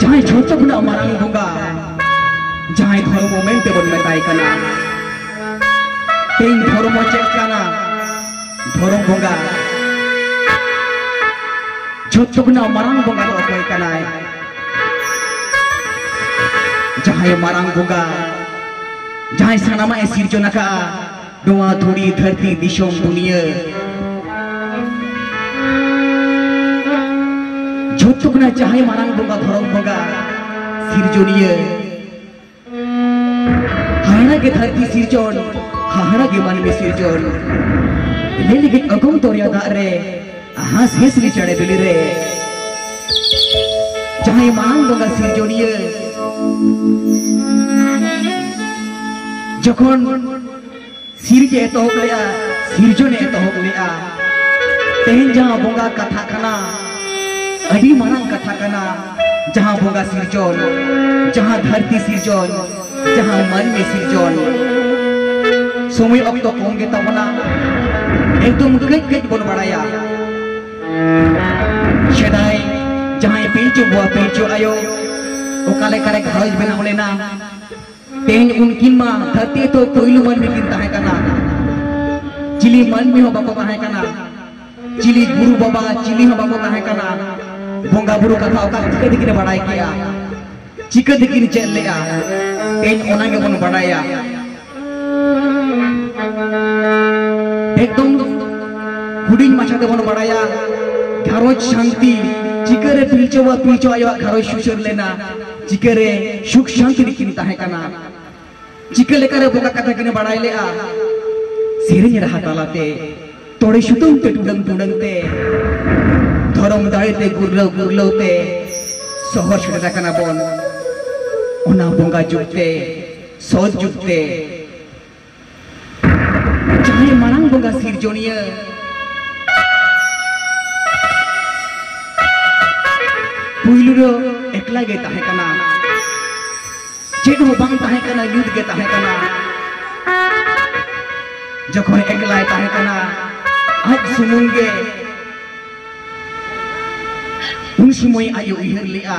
ᱡᱟᱦᱟᱸᱭ ᱡᱷᱚᱛᱚ ᱠᱷᱚᱱᱟᱜ ᱢᱟᱨᱟᱝ ᱵᱚᱸᱜᱟ ᱡᱟᱦᱟᱸᱭ ᱫᱷᱚᱨᱢᱚ ᱢᱮᱱᱛᱮ ᱵᱚᱱ ᱢᱮᱛᱟᱭ ᱠᱟᱱᱟ ᱛᱮᱦᱮᱧ ᱫᱷᱚᱨᱢᱚ ᱪᱮᱫ ᱠᱟᱱᱟ ᱫᱷᱚᱨᱚᱢ ᱵᱚᱸᱜᱟ ᱡᱷᱚᱛᱚ ᱠᱷᱚᱱᱟᱜ ᱢᱟᱨᱟᱝ ᱵᱚᱸᱜᱟ ᱫᱚ ᱚᱠᱚᱭ ᱠᱟᱱᱟᱭ ᱡᱟᱦᱟᱸᱭ ᱢᱟᱨᱟᱝ ᱵᱚᱸᱜᱟ ᱡᱟᱦᱟᱸᱭ ᱥᱟᱱᱟᱢᱟᱜ ᱮ ᱥᱤᱨᱡᱚᱱ ᱟᱠᱟᱫᱼᱟ ᱱᱚᱣᱟ ᱫᱷᱩᱲᱤ ᱫᱷᱟᱹᱨᱛᱤ ᱫᱤᱥᱚᱢ ᱫᱩᱱᱤᱭᱟᱹ ᱡᱷᱚᱛᱚ ᱠᱷᱚᱱᱟᱜ ᱡᱟᱦᱟᱸᱭ ᱢᱟᱨᱟᱝ ᱵᱚᱸᱜᱟ ᱫᱷᱚᱨᱚᱢ ᱵᱚᱸᱜᱟ ᱥᱤᱨᱡᱚᱱᱤᱭᱟᱹ ᱦᱟᱦᱟᱲᱟ ᱜᱮ ᱫᱷᱟᱹᱨᱛᱤ ᱥᱤᱨᱡᱚᱱ ᱦᱟᱦᱟᱲᱟ ᱜᱮ ᱢᱟᱹᱱᱢᱤ ᱥᱤᱨᱡᱚᱱ ᱞᱟᱹᱭ ᱞᱟᱹᱜᱤᱫ ᱚᱜᱚᱢ ᱫᱚᱨᱭᱟ ᱫᱟᱜ ᱨᱮ ᱦᱟᱸᱥ ᱦᱤᱥᱨᱤ ᱪᱟᱲᱮ ᱵᱤᱞᱤ ᱨᱮ ᱡᱟᱦᱟᱸᱭ ᱢᱟᱲᱟᱝ ᱵᱚᱸᱜᱟ ᱥᱤᱨᱡᱚᱱᱤᱭᱟᱹ ᱡᱚᱠᱷᱚᱱ ᱥᱤᱨᱡ ᱮᱛᱚᱦᱚᱵ ᱞᱮᱜᱼᱟ ᱥᱤᱨᱡᱚᱱ ᱮᱛᱚᱦᱚᱵ ᱞᱮᱜᱼᱟ ᱛᱮᱦᱮᱧ ᱡᱟᱦᱟᱸ ᱵᱚᱸᱜᱟ ᱠᱟᱛᱷᱟ ᱠᱟᱱᱟ ᱟᱹᱰᱤ ᱢᱟᱨᱟᱝ ᱠᱟᱛᱷᱟ ᱠᱟᱱᱟ ᱡᱟᱦᱟᱸ ᱵᱚᱸᱜᱟ ᱥᱤᱨᱡᱚᱱ ᱡᱟᱦᱟᱸ ᱫᱷᱟᱹᱨᱛᱤ ᱥᱤᱨᱡᱚᱱ ᱡᱟᱦᱟᱸ ᱢᱟᱹᱱᱢᱤ ᱥᱤᱨᱡᱚᱱ ᱥᱚᱢᱚᱭ ᱚᱠᱛᱚ ᱠᱚᱢ ᱜᱮ ᱛᱟᱵᱚᱱᱟ ᱮᱠᱫᱚᱢ ᱠᱟᱹᱡ ᱠᱟᱹᱡ ᱵᱚᱱ ᱵᱟᱲᱟᱭᱟ ᱥᱮᱫᱟᱭ ᱡᱟᱦᱟᱸᱭ ᱯᱤᱞᱪᱩ ᱵᱩᱣᱟ ᱯᱤᱞᱪᱩ ᱟᱭᱳ ᱚᱠᱟ ᱞᱮᱠᱟᱨᱮ ᱜᱷᱟᱨᱚᱸᱡᱽ ᱵᱮᱱᱟᱣ ᱞᱮᱱᱟ ᱛᱮᱦᱮᱧ ᱩᱱᱠᱤᱱ ᱢᱟ ᱫᱷᱟᱹᱨᱛᱤ ᱛᱚ ᱯᱳᱭᱞᱳ ᱢᱟᱹᱱᱢᱤ ᱠᱤᱱ ᱛᱟᱦᱮᱸ ᱠᱟᱱᱟ ᱪᱤᱞᱤ ᱢᱟᱹᱱᱢᱤ ᱦᱚᱸ ᱵᱟᱠᱚ ᱛᱟᱦᱮᱸ ᱠᱟᱱᱟ ᱪᱤᱞᱤ ᱜᱩᱨᱩ ᱵᱟᱵᱟ ᱪᱤᱞᱤ ᱦᱚᱸ ᱵᱟᱠᱚ ᱛᱟᱦᱮᱸ ᱠᱟᱱᱟ ᱵᱚᱸᱜᱟ ᱵᱩᱨᱩ ᱠᱟᱛᱷᱟ ᱚᱠᱟ ᱪᱤᱠᱟᱹ ᱛᱮᱠᱤᱱ ᱵᱟᱰᱟᱭ ᱠᱮᱜᱼᱟ ᱪᱤᱠᱟᱹ ᱛᱮᱠᱤᱱ ᱪᱮᱫ ᱞᱮᱜᱼᱟ ᱛᱮᱦᱮᱧ ᱚᱱᱟ ᱜᱮᱵᱚᱱ ᱵᱟᱰᱟᱭᱟ ᱮᱠᱫᱚᱢ ᱦᱩᱰᱤᱧ ᱢᱟᱪᱷᱟ ᱛᱮᱵᱚᱱ ᱵᱟᱰᱟᱭᱟ ᱜᱷᱟᱨᱚᱸᱡᱽ ᱥᱟᱱᱛᱤ ᱪᱤᱠᱟᱹᱨᱮ ᱯᱤᱞᱪᱚ ᱵᱟ ᱯᱤᱞᱪᱚ ᱟᱭᱳᱣᱟᱜ ᱜᱷᱟᱨᱚᱸᱡᱽ ᱥᱩᱥᱟᱹᱨ ᱞᱮᱱᱟ ᱪᱤᱠᱟᱹᱨᱮ ᱥᱩᱠ ᱥᱟᱱᱛᱤ ᱨᱮᱠᱤᱱ ᱛᱟᱦᱮᱸ ᱠᱟᱱᱟ ᱪᱤᱠᱟᱹ ᱞᱮᱠᱟᱨᱮ ᱵᱚᱸᱜᱟ ᱠᱟᱛᱷᱟ ᱠᱤᱱ ᱵᱟᱲᱟᱭ ᱞᱮᱜᱼᱟ ᱥᱮᱨᱮᱧ ᱨᱟᱦᱟ ᱛᱟᱞᱟᱛᱮ ᱛᱚᱲᱮ ᱥᱩᱛᱟᱹᱢ ᱛᱮ ᱴᱩᱰᱟᱹᱝ ᱴᱩᱰᱟᱹᱝ ᱛᱮ ᱫᱷᱚᱨᱚᱢ ᱫᱟᱲᱮ ᱛᱮ ᱜᱩᱨᱞᱟᱹᱣ ᱜᱩᱨᱞᱟᱹᱣ ᱛᱮ ᱥᱚᱦᱚᱨ ᱥᱮᱴᱮᱨ ᱟᱠᱟᱱᱟ ᱵᱚᱱ ᱚᱱᱟ ᱵᱚᱸᱜᱟ ᱡᱩᱜᱽ ᱛᱮ ᱥᱚᱛ ᱡᱩᱜᱽ ᱛᱮ ᱡᱟᱦᱟᱸᱭ ᱢᱟᱨᱟᱝ ᱵᱚᱸᱜᱟ ᱥᱤᱨᱡᱚᱱᱤᱭᱟᱹ ᱯᱩᱭᱞᱩ ᱫᱚ ᱮᱠᱞᱟ ᱜᱮ ᱛᱟᱦᱮᱸ ᱠᱟᱱᱟ ᱪᱮᱫ ᱦᱚᱸ ᱵᱟᱝ ᱛᱟᱦᱮᱸ ᱠᱟᱱᱟ ᱧᱩᱛ ᱜᱮ ᱛᱟᱦᱮᱸ ᱠᱟᱱᱟ ᱡᱚᱠᱷᱚᱱ ᱮᱠᱞᱟᱭ ᱛᱟᱦᱮᱸ ᱠᱟᱱᱟ ᱟᱡ ᱥᱩᱢᱩᱝ ᱜᱮ ᱩᱱ ᱥᱚᱢᱚᱭ ᱟᱡ ᱩᱭᱦᱟᱹᱨ ᱞᱮᱜᱼᱟ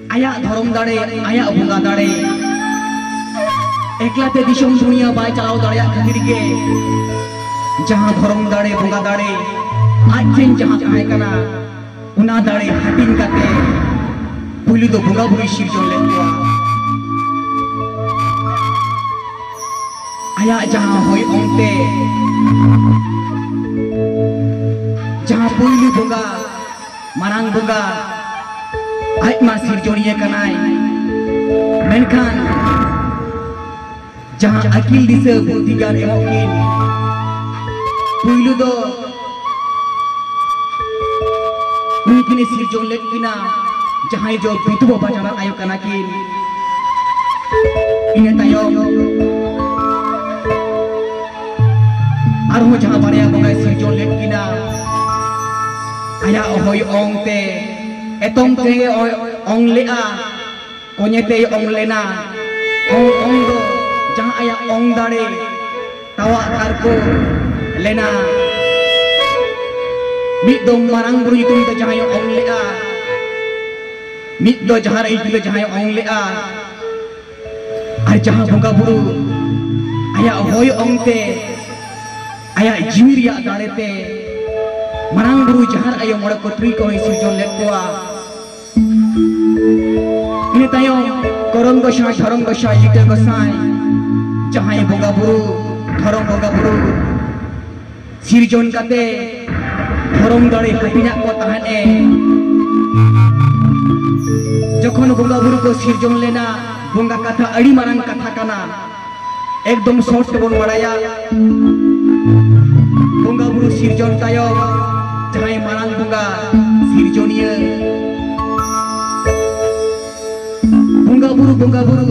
ᱟᱭᱟᱜ ᱫᱷᱚᱨᱚᱢ ᱫᱟᱲᱮ ᱟᱭᱟᱜ ᱵᱚᱸᱜᱟ ᱫᱟᱲᱮ ᱮᱠᱞᱟᱛᱮ ᱫᱤᱥᱚᱢ ᱫᱩᱱᱤᱭᱟᱹ ᱵᱟᱭ ᱪᱟᱞᱟᱣ ᱫᱟᱲᱮᱭᱟᱜ ᱠᱷᱟᱹᱛᱤᱨ ᱜᱮ ᱡᱟᱦᱟᱸ ᱫᱷᱚᱨᱚᱢ ᱫᱟᱲᱮ ᱵᱚᱸᱜᱟ ᱫᱟᱲᱮ ᱟᱡ ᱴᱷᱮᱱ ᱡᱟᱦᱟᱸ ᱛᱟᱦᱮᱸ ᱠᱟᱱᱟ ᱚᱱᱟ ᱫᱟᱲᱮ ᱦᱟᱹᱴᱤᱧ ᱠᱟᱛᱮ ᱯᱩᱭᱞᱩ ᱫᱚ ᱵᱚᱸᱜᱟ ᱵᱩᱨᱩᱭ ᱥᱤᱨᱡᱚᱱ ᱞᱮᱫ ᱠᱚᱣᱟ ᱟᱭᱟᱜ ᱡᱟᱦᱟᱸ ᱦᱚᱭ ᱚᱱᱛᱮ ᱡᱟᱦᱟᱸ ᱯᱩᱭᱞᱩ ᱵᱚᱸᱜᱟ ᱢᱟᱨᱟᱝ ᱵᱚᱸᱜᱟ ᱟᱡ ᱢᱟ ᱥᱤᱨᱡᱚᱱᱤᱭᱟᱹ ᱠᱟᱱᱟᱭ ᱢᱮᱱᱠᱷᱟᱱ ᱡᱟᱦᱟᱸ ᱟᱹᱠᱤᱞ ᱫᱤᱥᱟᱹ ᱵᱩᱫᱷᱤ ᱜᱟᱱ ᱮᱢᱚᱜ ᱠᱤᱱ ᱯᱩᱭᱞᱩ ᱫᱚ ᱩᱱᱤ ᱠᱤᱱ ᱥᱤᱨᱡᱚᱱ ᱞᱮᱫ ᱠᱤᱱᱟ ᱡᱟᱦᱟᱸᱭ ᱫᱚ ᱵᱤᱫᱷᱩᱵᱟ ᱵᱟᱡᱟᱨᱟᱜ ᱟᱭᱳ ᱠᱟᱱᱟ ᱠᱤᱱ ᱤᱱᱟᱹ ᱛᱟᱭᱚᱢ ᱟᱨᱦᱚᱸ ᱡᱟᱦᱟᱸ ᱵᱟᱨᱭᱟ ᱵᱚᱸᱜᱟᱭ ᱥᱤᱨᱡᱚᱱ ᱞᱮᱫ ᱠᱤᱱᱟ ᱟᱭᱟᱜ ᱦᱚᱭ ᱚᱝ ᱛᱮ ᱮᱛᱚᱢ ᱛᱮ ᱚᱝ ᱞᱮᱜᱼᱟ ᱠᱚᱧᱮ ᱛᱮᱭ ᱚᱝ ᱞᱮᱱᱟ ᱚᱝ ᱚᱝ ᱫᱚ ᱡᱟᱦᱟᱸ ᱟᱭᱟᱜ ᱚᱝ ᱫᱟᱲᱮ ᱛᱟᱣᱟᱜ ᱛᱟᱨᱠᱚ ᱞᱮᱱᱟ ᱢᱤᱫ ᱫᱚ ᱢᱟᱨᱟᱝ ᱵᱩᱨᱩ ᱧᱩᱛᱩᱢ ᱛᱮ ᱡᱟᱦᱟᱸᱭ ᱚᱝ ᱞᱮᱜᱼᱟ ᱢᱤᱫ ᱫᱚ ᱡᱟᱦᱟᱸ ᱨᱮ ᱧᱩᱛᱩᱢ ᱛᱮ ᱡᱟᱦᱟᱸᱭ ᱚᱝ ᱞᱮᱜᱼᱟ ᱟᱨ ᱡᱟᱦᱟᱸ ᱵᱚᱸᱜᱟ ᱵᱩᱨᱩ ᱟᱭᱟᱜ ᱦᱚᱭ ᱚᱝ ᱛᱮ ᱟᱭᱟᱜ ᱡᱤᱣᱤ ᱨᱮᱭᱟᱜ ᱫᱟᱲᱮ ᱛᱮ ᱢᱟᱨᱟᱝ ᱵᱩᱨᱩ ᱡᱟᱦᱟᱨ ᱟᱭᱳ ᱢᱚᱬᱮ ᱠᱚ ᱛᱩᱨᱩᱭ ᱠᱚ ᱥᱤᱨᱡᱚᱱ ᱞᱮᱫ ᱠᱚᱣᱟ ᱤᱱᱟᱹ ᱛᱟᱭᱚᱢ ᱠᱚᱨᱚᱢ ᱜᱚᱥᱟᱭ ᱫᱷᱚᱨᱚᱢ ᱜᱚᱥᱟᱭ ᱞᱤᱴᱟᱹ ᱜᱚᱥᱟᱭ ᱡᱟᱦᱟᱸᱭ ᱵᱚᱸᱜᱟ ᱵᱩᱨᱩ ᱫᱷᱚᱨᱚᱢ ᱵᱚᱸᱜᱟ ᱵᱩᱨᱩ ᱥᱤᱨᱡᱚᱱ ᱠᱟᱛᱮ ᱫᱷᱚᱨᱚᱢ ᱫᱟᱲᱮ ᱦᱟᱹᱴᱤᱧᱟᱜ ᱠᱚ ᱛᱟᱦᱮᱸᱫ ᱮ ᱡᱚᱠᱷᱚᱱ ᱵᱚᱸᱜᱟ ᱵᱩᱨᱩ ᱠᱚ ᱥᱤᱨᱡᱚᱱ ᱞᱮᱱᱟ ᱵᱚᱸᱜᱟ ᱠᱟᱛᱷᱟ ᱟᱹᱰᱤ ᱢᱟᱨᱟᱝ ᱠᱟᱛᱷᱟ ᱠᱟᱱᱟ ᱮᱠᱫᱚᱢ ᱥᱚᱨᱴ ᱛᱮᱵᱚᱱ ᱵᱟᱲᱟᱭᱟ ᱵᱚᱸᱜᱟ ᱵᱩᱨᱩ ᱥᱤᱨᱡᱚᱱ ᱛᱟᱭᱚᱢ ᱡᱟᱦᱟᱸᱭ ᱢᱟᱨᱟᱝ ᱵᱚᱸᱜᱟ ᱥᱤᱨᱡᱚᱱᱤᱭᱟᱹ ᱵᱚᱸᱜᱟ ᱵᱩᱨᱩ ᱵᱚᱸᱜᱟ ᱵᱩᱨᱩ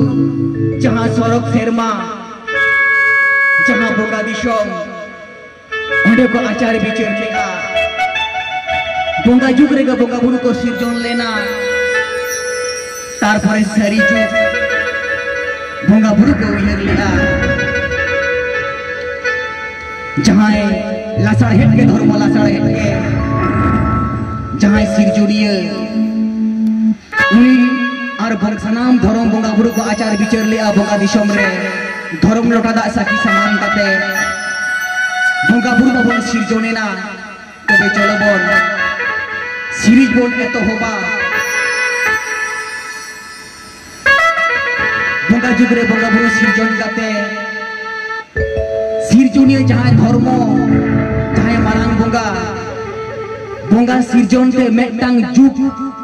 ᱡᱟᱦᱟᱸ ᱥᱚᱨᱚᱜ ᱥᱮᱨᱢᱟ ᱡᱟᱦᱟᱸ ᱵᱚᱸᱜᱟ ᱫᱤᱥᱚᱢ ᱚᱸᱰᱮ ᱠᱚ ᱟᱪᱟᱨ ᱵᱤᱪᱟᱹᱨ ᱠᱮᱫᱼᱟ ᱵᱚᱸᱜᱟ ᱡᱩᱜᱽ ᱨᱮᱜᱮ ᱵᱚᱸᱜᱟ ᱵᱩᱨᱩ ᱠᱚ ᱥᱤᱨᱡᱚᱱ ᱞᱮᱱᱟ ᱛᱟᱨᱯᱚᱨᱮ ᱥᱟᱹᱨᱤ ᱡᱩᱜᱽ ᱵᱚᱸᱜᱟ ᱵᱩᱨᱩ ᱠᱚ ᱩᱭᱦᱟᱹᱨ ᱞᱮᱫᱼᱟ ᱡᱟᱦᱟᱸᱭ ᱞᱟᱥᱟᱲᱦᱮᱫ ᱜᱮ ᱫᱷᱚᱨᱢᱚ ᱞᱟᱥᱟᱲᱦᱮᱫ ᱜᱮ ᱡᱟᱦᱟᱸᱭ ᱥᱤᱨᱡᱚᱱᱤᱭᱟᱹ ᱱᱩᱭ ᱟᱨ ᱵᱚᱝ ᱥᱟᱱᱟᱢ ᱫᱷᱚᱨᱚᱢ ᱵᱚᱸᱜᱟ ᱵᱩᱨᱩ ᱠᱚ ᱟᱪᱟᱨ ᱵᱤᱪᱟᱹᱨ ᱞᱮᱜᱼᱟ ᱵᱚᱸᱜᱟ ᱫᱤᱥᱚᱢ ᱨᱮ ᱫᱷᱚᱨᱚᱢ ᱞᱚᱴᱟ ᱫᱟᱜ ᱥᱟᱹᱠᱷᱤ ᱥᱟᱢᱟᱱ ᱠᱟᱛᱮ ᱵᱚᱸᱜᱟ ᱵᱩᱨᱩ ᱵᱟᱵᱚᱱ ᱥᱤᱨᱡᱚᱱ ᱮᱱᱟ ᱛᱚᱵᱮ ᱪᱚᱞᱚ ᱵᱚᱱ ᱥᱤᱨᱤᱡ ᱵᱚᱱ ᱮᱛᱚᱦᱚᱵᱟ ᱵᱚᱸᱜᱟ ᱡᱩᱜᱽ ᱨᱮ ᱵᱚᱸᱜᱟ ᱵᱩᱨᱩ ᱥᱤᱨᱡᱚᱱ ᱠᱟᱛᱮ ᱥᱤᱨᱡᱚᱱᱤᱭᱟᱹ ᱡᱟᱦᱟᱸᱭ ᱫᱷᱚᱨᱢᱚ ᱡᱟᱦᱟᱸᱭ ᱢᱟᱨᱟᱝ ᱵᱚᱸᱜᱟ ᱵᱚᱸᱜᱟ ᱥᱤᱨᱡᱚᱱ ᱛᱮ ᱢᱤᱫᱴᱟᱝ ᱡᱩᱜᱽ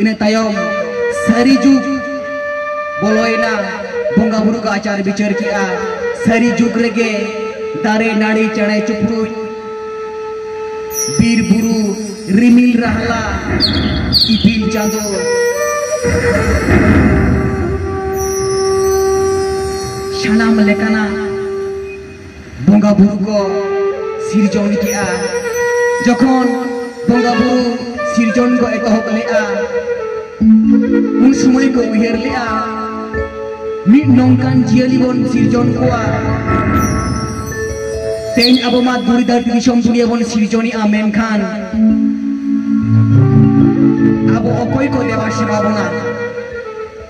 ᱤᱱᱟᱹ ᱛᱟᱭᱚᱢ ᱥᱟᱹᱨᱤ ᱡᱩᱜᱽ ᱵᱚᱞᱚᱭᱮᱱᱟ ᱵᱚᱸᱜᱟ ᱵᱩᱨᱩ ᱠᱚ ᱟᱪᱟᱨ ᱵᱤᱪᱟᱹᱨ ᱠᱮᱜᱼᱟ ᱥᱟᱹᱨᱤ ᱡᱩᱜᱽ ᱨᱮᱜᱮ ᱫᱟᱨᱮ ᱱᱟᱹᱲᱤ ᱪᱮᱬᱮ ᱪᱩᱯᱨᱩᱡ ᱵᱤᱨ ᱵᱩᱨᱩ ᱨᱤᱢᱤᱞ ᱨᱟᱦᱞᱟ ᱤᱯᱤᱞ ᱪᱟᱸᱫᱚ ᱥᱟᱱᱟᱢ ᱞᱮᱠᱟᱱᱟᱜ ᱵᱚᱸᱜᱟ ᱵᱩᱨᱩ ᱠᱚ ᱥᱤᱨᱡᱚᱱ ᱠᱮᱜᱼᱟ ᱡᱚᱠᱷᱚᱱ ᱵᱚᱸᱜᱟ ᱵᱩᱨᱩ ᱥᱤᱨᱡᱚᱱ ᱠᱚ ᱮᱛᱚᱦᱚᱵ ᱞᱮᱜᱼᱟ ᱩᱱ ᱥᱚᱢᱚᱭ ᱠᱚ ᱩᱭᱦᱟᱹᱨ ᱞᱮᱜᱼᱟ ᱢᱤᱫ ᱱᱚᱝᱠᱟᱱ ᱡᱤᱭᱟᱹᱞᱤ ᱵᱚᱱ ᱥᱤᱨᱡᱚᱱ ᱠᱚᱣᱟ ᱛᱮᱦᱮᱧ ᱟᱵᱚ ᱢᱟ ᱫᱩᱨᱤ ᱫᱷᱟᱹᱨᱛᱤ ᱫᱤᱥᱚᱢ ᱫᱩᱱᱤᱭᱟᱹ ᱵᱚᱱ ᱥᱤᱨᱡᱚᱱᱮᱜᱼᱟ ᱢᱮᱱᱠᱷᱟᱱ ᱟᱵᱚ ᱚᱠᱚᱭ ᱠᱚ ᱫᱮᱵᱟ ᱥᱮᱵᱟ ᱵᱚᱱᱟ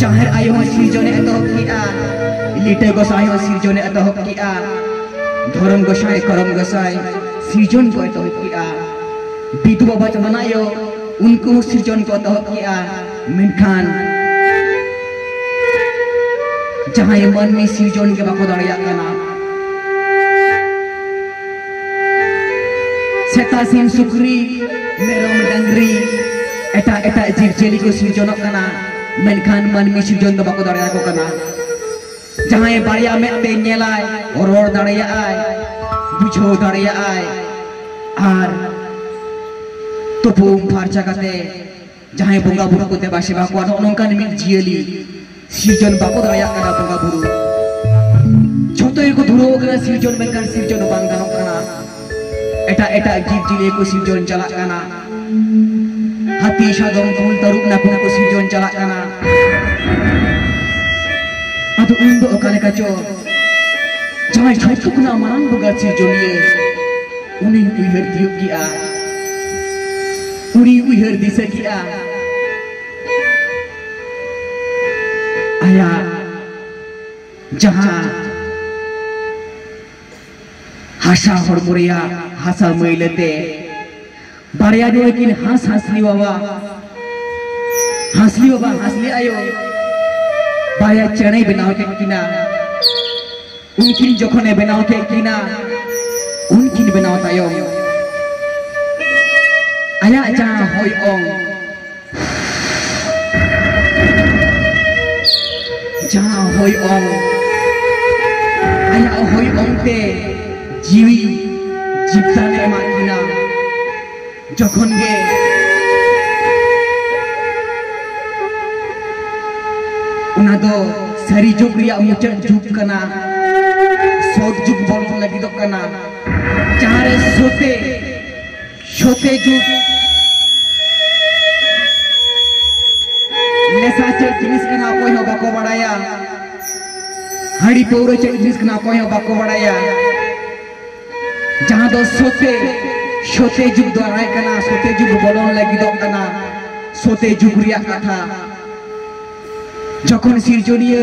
ᱡᱟᱦᱮᱨ ᱟᱭᱳ ᱦᱚᱸ ᱥᱤᱨᱡᱚᱱᱮ ᱮᱛᱚᱦᱚᱵ ᱠᱮᱜᱼᱟ ᱞᱤᱴᱟᱹ ᱜᱚᱥᱟᱭ ᱦᱚᱸ ᱥᱤᱨᱡᱚᱱᱮ ᱮᱛᱚᱦᱚᱵ ᱠᱮᱜᱼᱟ ᱫᱷᱚᱨᱚᱢ ᱜᱚᱥᱟᱭ ᱠᱚᱨᱚᱢ ᱜᱚᱥᱟᱭ ᱥᱤᱨᱡᱚᱱ ᱠᱚ ᱮᱛᱚᱦᱚᱵ ᱠᱮᱜᱼᱟ ᱵᱤᱫᱩ ᱵᱟᱵᱟ ᱪᱟᱱᱟᱱ ᱟᱭᱳ ᱩᱱᱠᱩ ᱦᱚᱸ ᱥᱤᱨᱡᱚᱱ ᱠᱚ ᱮᱛᱚᱦᱚᱵ ᱠᱮᱜᱼᱟ ᱢᱮᱱᱠᱷᱟᱱ ᱡᱟᱦᱟᱸᱭ ᱢᱟᱹᱱᱢᱤ ᱥᱤᱨᱡᱚᱱ ᱜᱮ ᱵᱟᱠᱚ ᱫᱟᱲᱮᱭᱟᱜ ᱠᱟᱱᱟ ᱥᱮᱛᱟ ᱥᱤᱢ ᱥᱩᱠᱨᱤ ᱢᱮᱨᱚᱢ ᱰᱟᱝᱨᱤ ᱮᱴᱟᱜ ᱮᱴᱟᱜ ᱡᱤᱵᱽ ᱡᱤᱭᱟᱹᱞᱤ ᱠᱚ ᱥᱤᱨᱡᱚᱱᱚᱜ ᱠᱟᱱᱟ ᱢᱮᱱᱠᱷᱟᱱ ᱢᱟᱹᱱᱢᱤ ᱥᱤᱨᱡᱚᱱ ᱫᱚ ᱵᱟᱠᱚ ᱫᱟᱲᱮᱭᱟᱠᱚ ᱠᱟᱱᱟ ᱡᱟᱦᱟᱸᱭ ᱵᱟᱨᱭᱟ ᱢᱮᱫ ᱛᱮ ᱧᱮᱞᱟᱭ ᱨᱚᱲ ᱫᱟᱲᱮᱭᱟᱜᱼᱟᱭ ᱵᱩᱡᱷᱟᱹᱣ ᱫᱟᱲᱮᱭᱟᱜᱼᱟᱭ ᱟᱨ ᱛᱩᱯᱩ ᱯᱷᱟᱨᱪᱟ ᱠᱟᱛᱮ ᱡᱟᱦᱟᱸᱭ ᱵᱚᱸᱜᱟ ᱵᱩᱨᱩ ᱠᱚ ᱫᱮᱵᱟ ᱥᱮᱵᱟ ᱠᱚᱣᱟ ᱱᱚᱜᱼᱚ ᱱᱚᱝᱠᱟᱱ ᱢᱤᱫ ᱡᱤᱭᱟᱹᱞᱤ ᱥᱤᱨᱡᱚᱱ ᱵᱟᱠᱚ ᱫᱟᱲᱮᱭᱟᱜ ᱠᱟᱱᱟ ᱵᱚᱸᱜᱟ ᱵᱩᱨᱩ ᱡᱷᱚᱛᱚ ᱜᱮᱠᱚ ᱫᱷᱩᱨᱟᱹᱣ ᱠᱟᱱᱟ ᱥᱤᱨᱡᱚᱱ ᱢᱮᱱᱠᱷᱟᱱ ᱥᱤᱨᱡᱚᱱ ᱵᱟᱝ ᱜᱟᱱᱚᱜ ᱠᱟᱱᱟ ᱮᱴᱟᱜ ᱮᱴᱟᱜ ᱡᱤᱵᱽ ᱡᱤᱭᱟᱹᱞᱤ ᱠᱚ ᱥᱤᱨᱡᱚᱱ ᱪᱟᱞᱟᱜ ᱠᱟᱱᱟ ᱦᱟᱹᱛᱤ ᱥᱟᱫᱚᱢ ᱠᱩᱞ ᱛᱟᱹᱨᱩᱵ ᱱᱟᱹᱯᱤ ᱠᱚ ᱥᱤᱨᱡᱚᱱ ᱪᱟᱞᱟᱜ ᱠᱟᱱᱟ ᱟᱫᱚ ᱤᱧ ᱫᱚ ᱚᱠᱟ ᱞᱮᱠᱟ ᱪᱚ ᱡᱟᱦᱟᱸᱭ ᱡᱷᱚᱛᱚ ᱠᱷᱚᱱᱟᱜ ᱢᱟᱨᱟᱝ ᱵᱚᱸᱜᱟ ᱥᱤᱨᱡᱚᱱᱤᱭᱟᱹ ᱩᱱᱤᱧ ᱩᱭᱦᱟᱹᱨ ᱛᱤᱭᱳᱜ ᱠᱮᱜᱼᱟ ᱩᱱᱤ ᱩᱭᱦᱟᱹᱨ ᱫᱤᱥᱟᱹ ᱠᱮᱜᱼᱟ ᱟᱭᱟᱜ ᱡᱟᱦᱟᱸ ᱦᱟᱥᱟ ᱦᱚᱲᱢᱚ ᱨᱮᱭᱟᱜ ᱦᱟᱥᱟ ᱢᱟᱹᱭᱞᱟᱹᱛᱮ ᱵᱟᱨᱭᱟ ᱫᱚ ᱟᱹᱠᱤᱱ ᱦᱟᱸᱥ ᱦᱟᱸᱥᱞᱤ ᱵᱟᱵᱟ ᱦᱟᱸᱥᱞᱤ ᱵᱟᱵᱟ ᱦᱟᱸᱥᱞᱤ ᱟᱭᱳ ᱵᱟᱨᱭᱟ ᱪᱮᱬᱮ ᱵᱮᱱᱟᱣ ᱠᱮᱫ ᱠᱤᱱᱟ ᱩᱱᱠᱤᱱ ᱡᱚᱠᱷᱚᱱᱮ ᱵᱮᱱᱟᱣ ᱠᱮᱫ ᱠᱤᱱᱟ ᱩᱱᱠᱤᱱ ᱵᱮᱱᱟᱣ ᱛᱟᱭᱚᱢ ᱟᱭᱟᱜ ᱡᱟᱦᱟᱸ ᱦᱚᱭ ᱚᱝ ᱡᱟᱦᱟᱸ ᱦᱚᱭ ᱚᱝ ᱟᱭᱟᱜ ᱦᱚᱭ ᱚᱝ ᱛᱮ ᱡᱤᱣᱤ ᱡᱤᱵᱽᱫᱟᱱ ᱮᱢᱟᱜ ᱠᱤᱱᱟ ᱡᱚᱠᱷᱚᱱ ᱜᱮ ᱚᱱᱟ ᱫᱚ ᱥᱟᱹᱨᱤ ᱡᱩᱜᱽ ᱨᱮᱭᱟᱜ ᱢᱩᱪᱟᱹᱫ ᱡᱩᱜᱽ ᱠᱟᱱᱟ ᱥᱚᱛ ᱡᱩᱜᱽ ᱵᱚᱞᱚᱱ ᱞᱟᱹᱜᱤᱫᱚᱜ ᱠᱟᱱᱟ ᱡᱟᱦᱟᱸᱨᱮ ᱥᱚᱛᱮ ᱥᱚᱛᱮ ᱡᱩᱜᱽ ᱱᱮᱥᱟ ᱪᱮᱫ ᱡᱤᱱᱤᱥ ᱠᱟᱱᱟ ᱚᱠᱚᱭ ᱦᱚᱸ ᱵᱟᱠᱚ ᱵᱟᱲᱟᱭᱟ ᱦᱟᱺᱰᱤ ᱯᱟᱹᱣᱨᱟᱹ ᱪᱮᱫ ᱡᱤᱱᱤᱥ ᱠᱟᱱᱟ ᱚᱠᱚᱭ ᱦᱚᱸ ᱵᱟᱠᱚ ᱵᱟᱲᱟᱭᱟ ᱡᱟᱦᱟᱸ ᱫᱚ ᱥᱚᱛᱮ ᱥᱚᱛᱮ ᱡᱩᱜᱽ ᱫᱚ ᱟᱭ ᱠᱟᱱᱟ ᱥᱚᱛᱮ ᱡᱩᱜᱽ ᱵᱚᱞᱚᱱ ᱞᱟᱹᱜᱤᱫᱚᱜ ᱠᱟᱱᱟ ᱥᱚᱛᱮ ᱡᱩᱜᱽ ᱨᱮᱭᱟᱜ ᱠᱟᱛᱷᱟ ᱡᱚᱠᱷᱚᱱ ᱥᱤᱨᱡᱚᱱᱤᱭᱟᱹ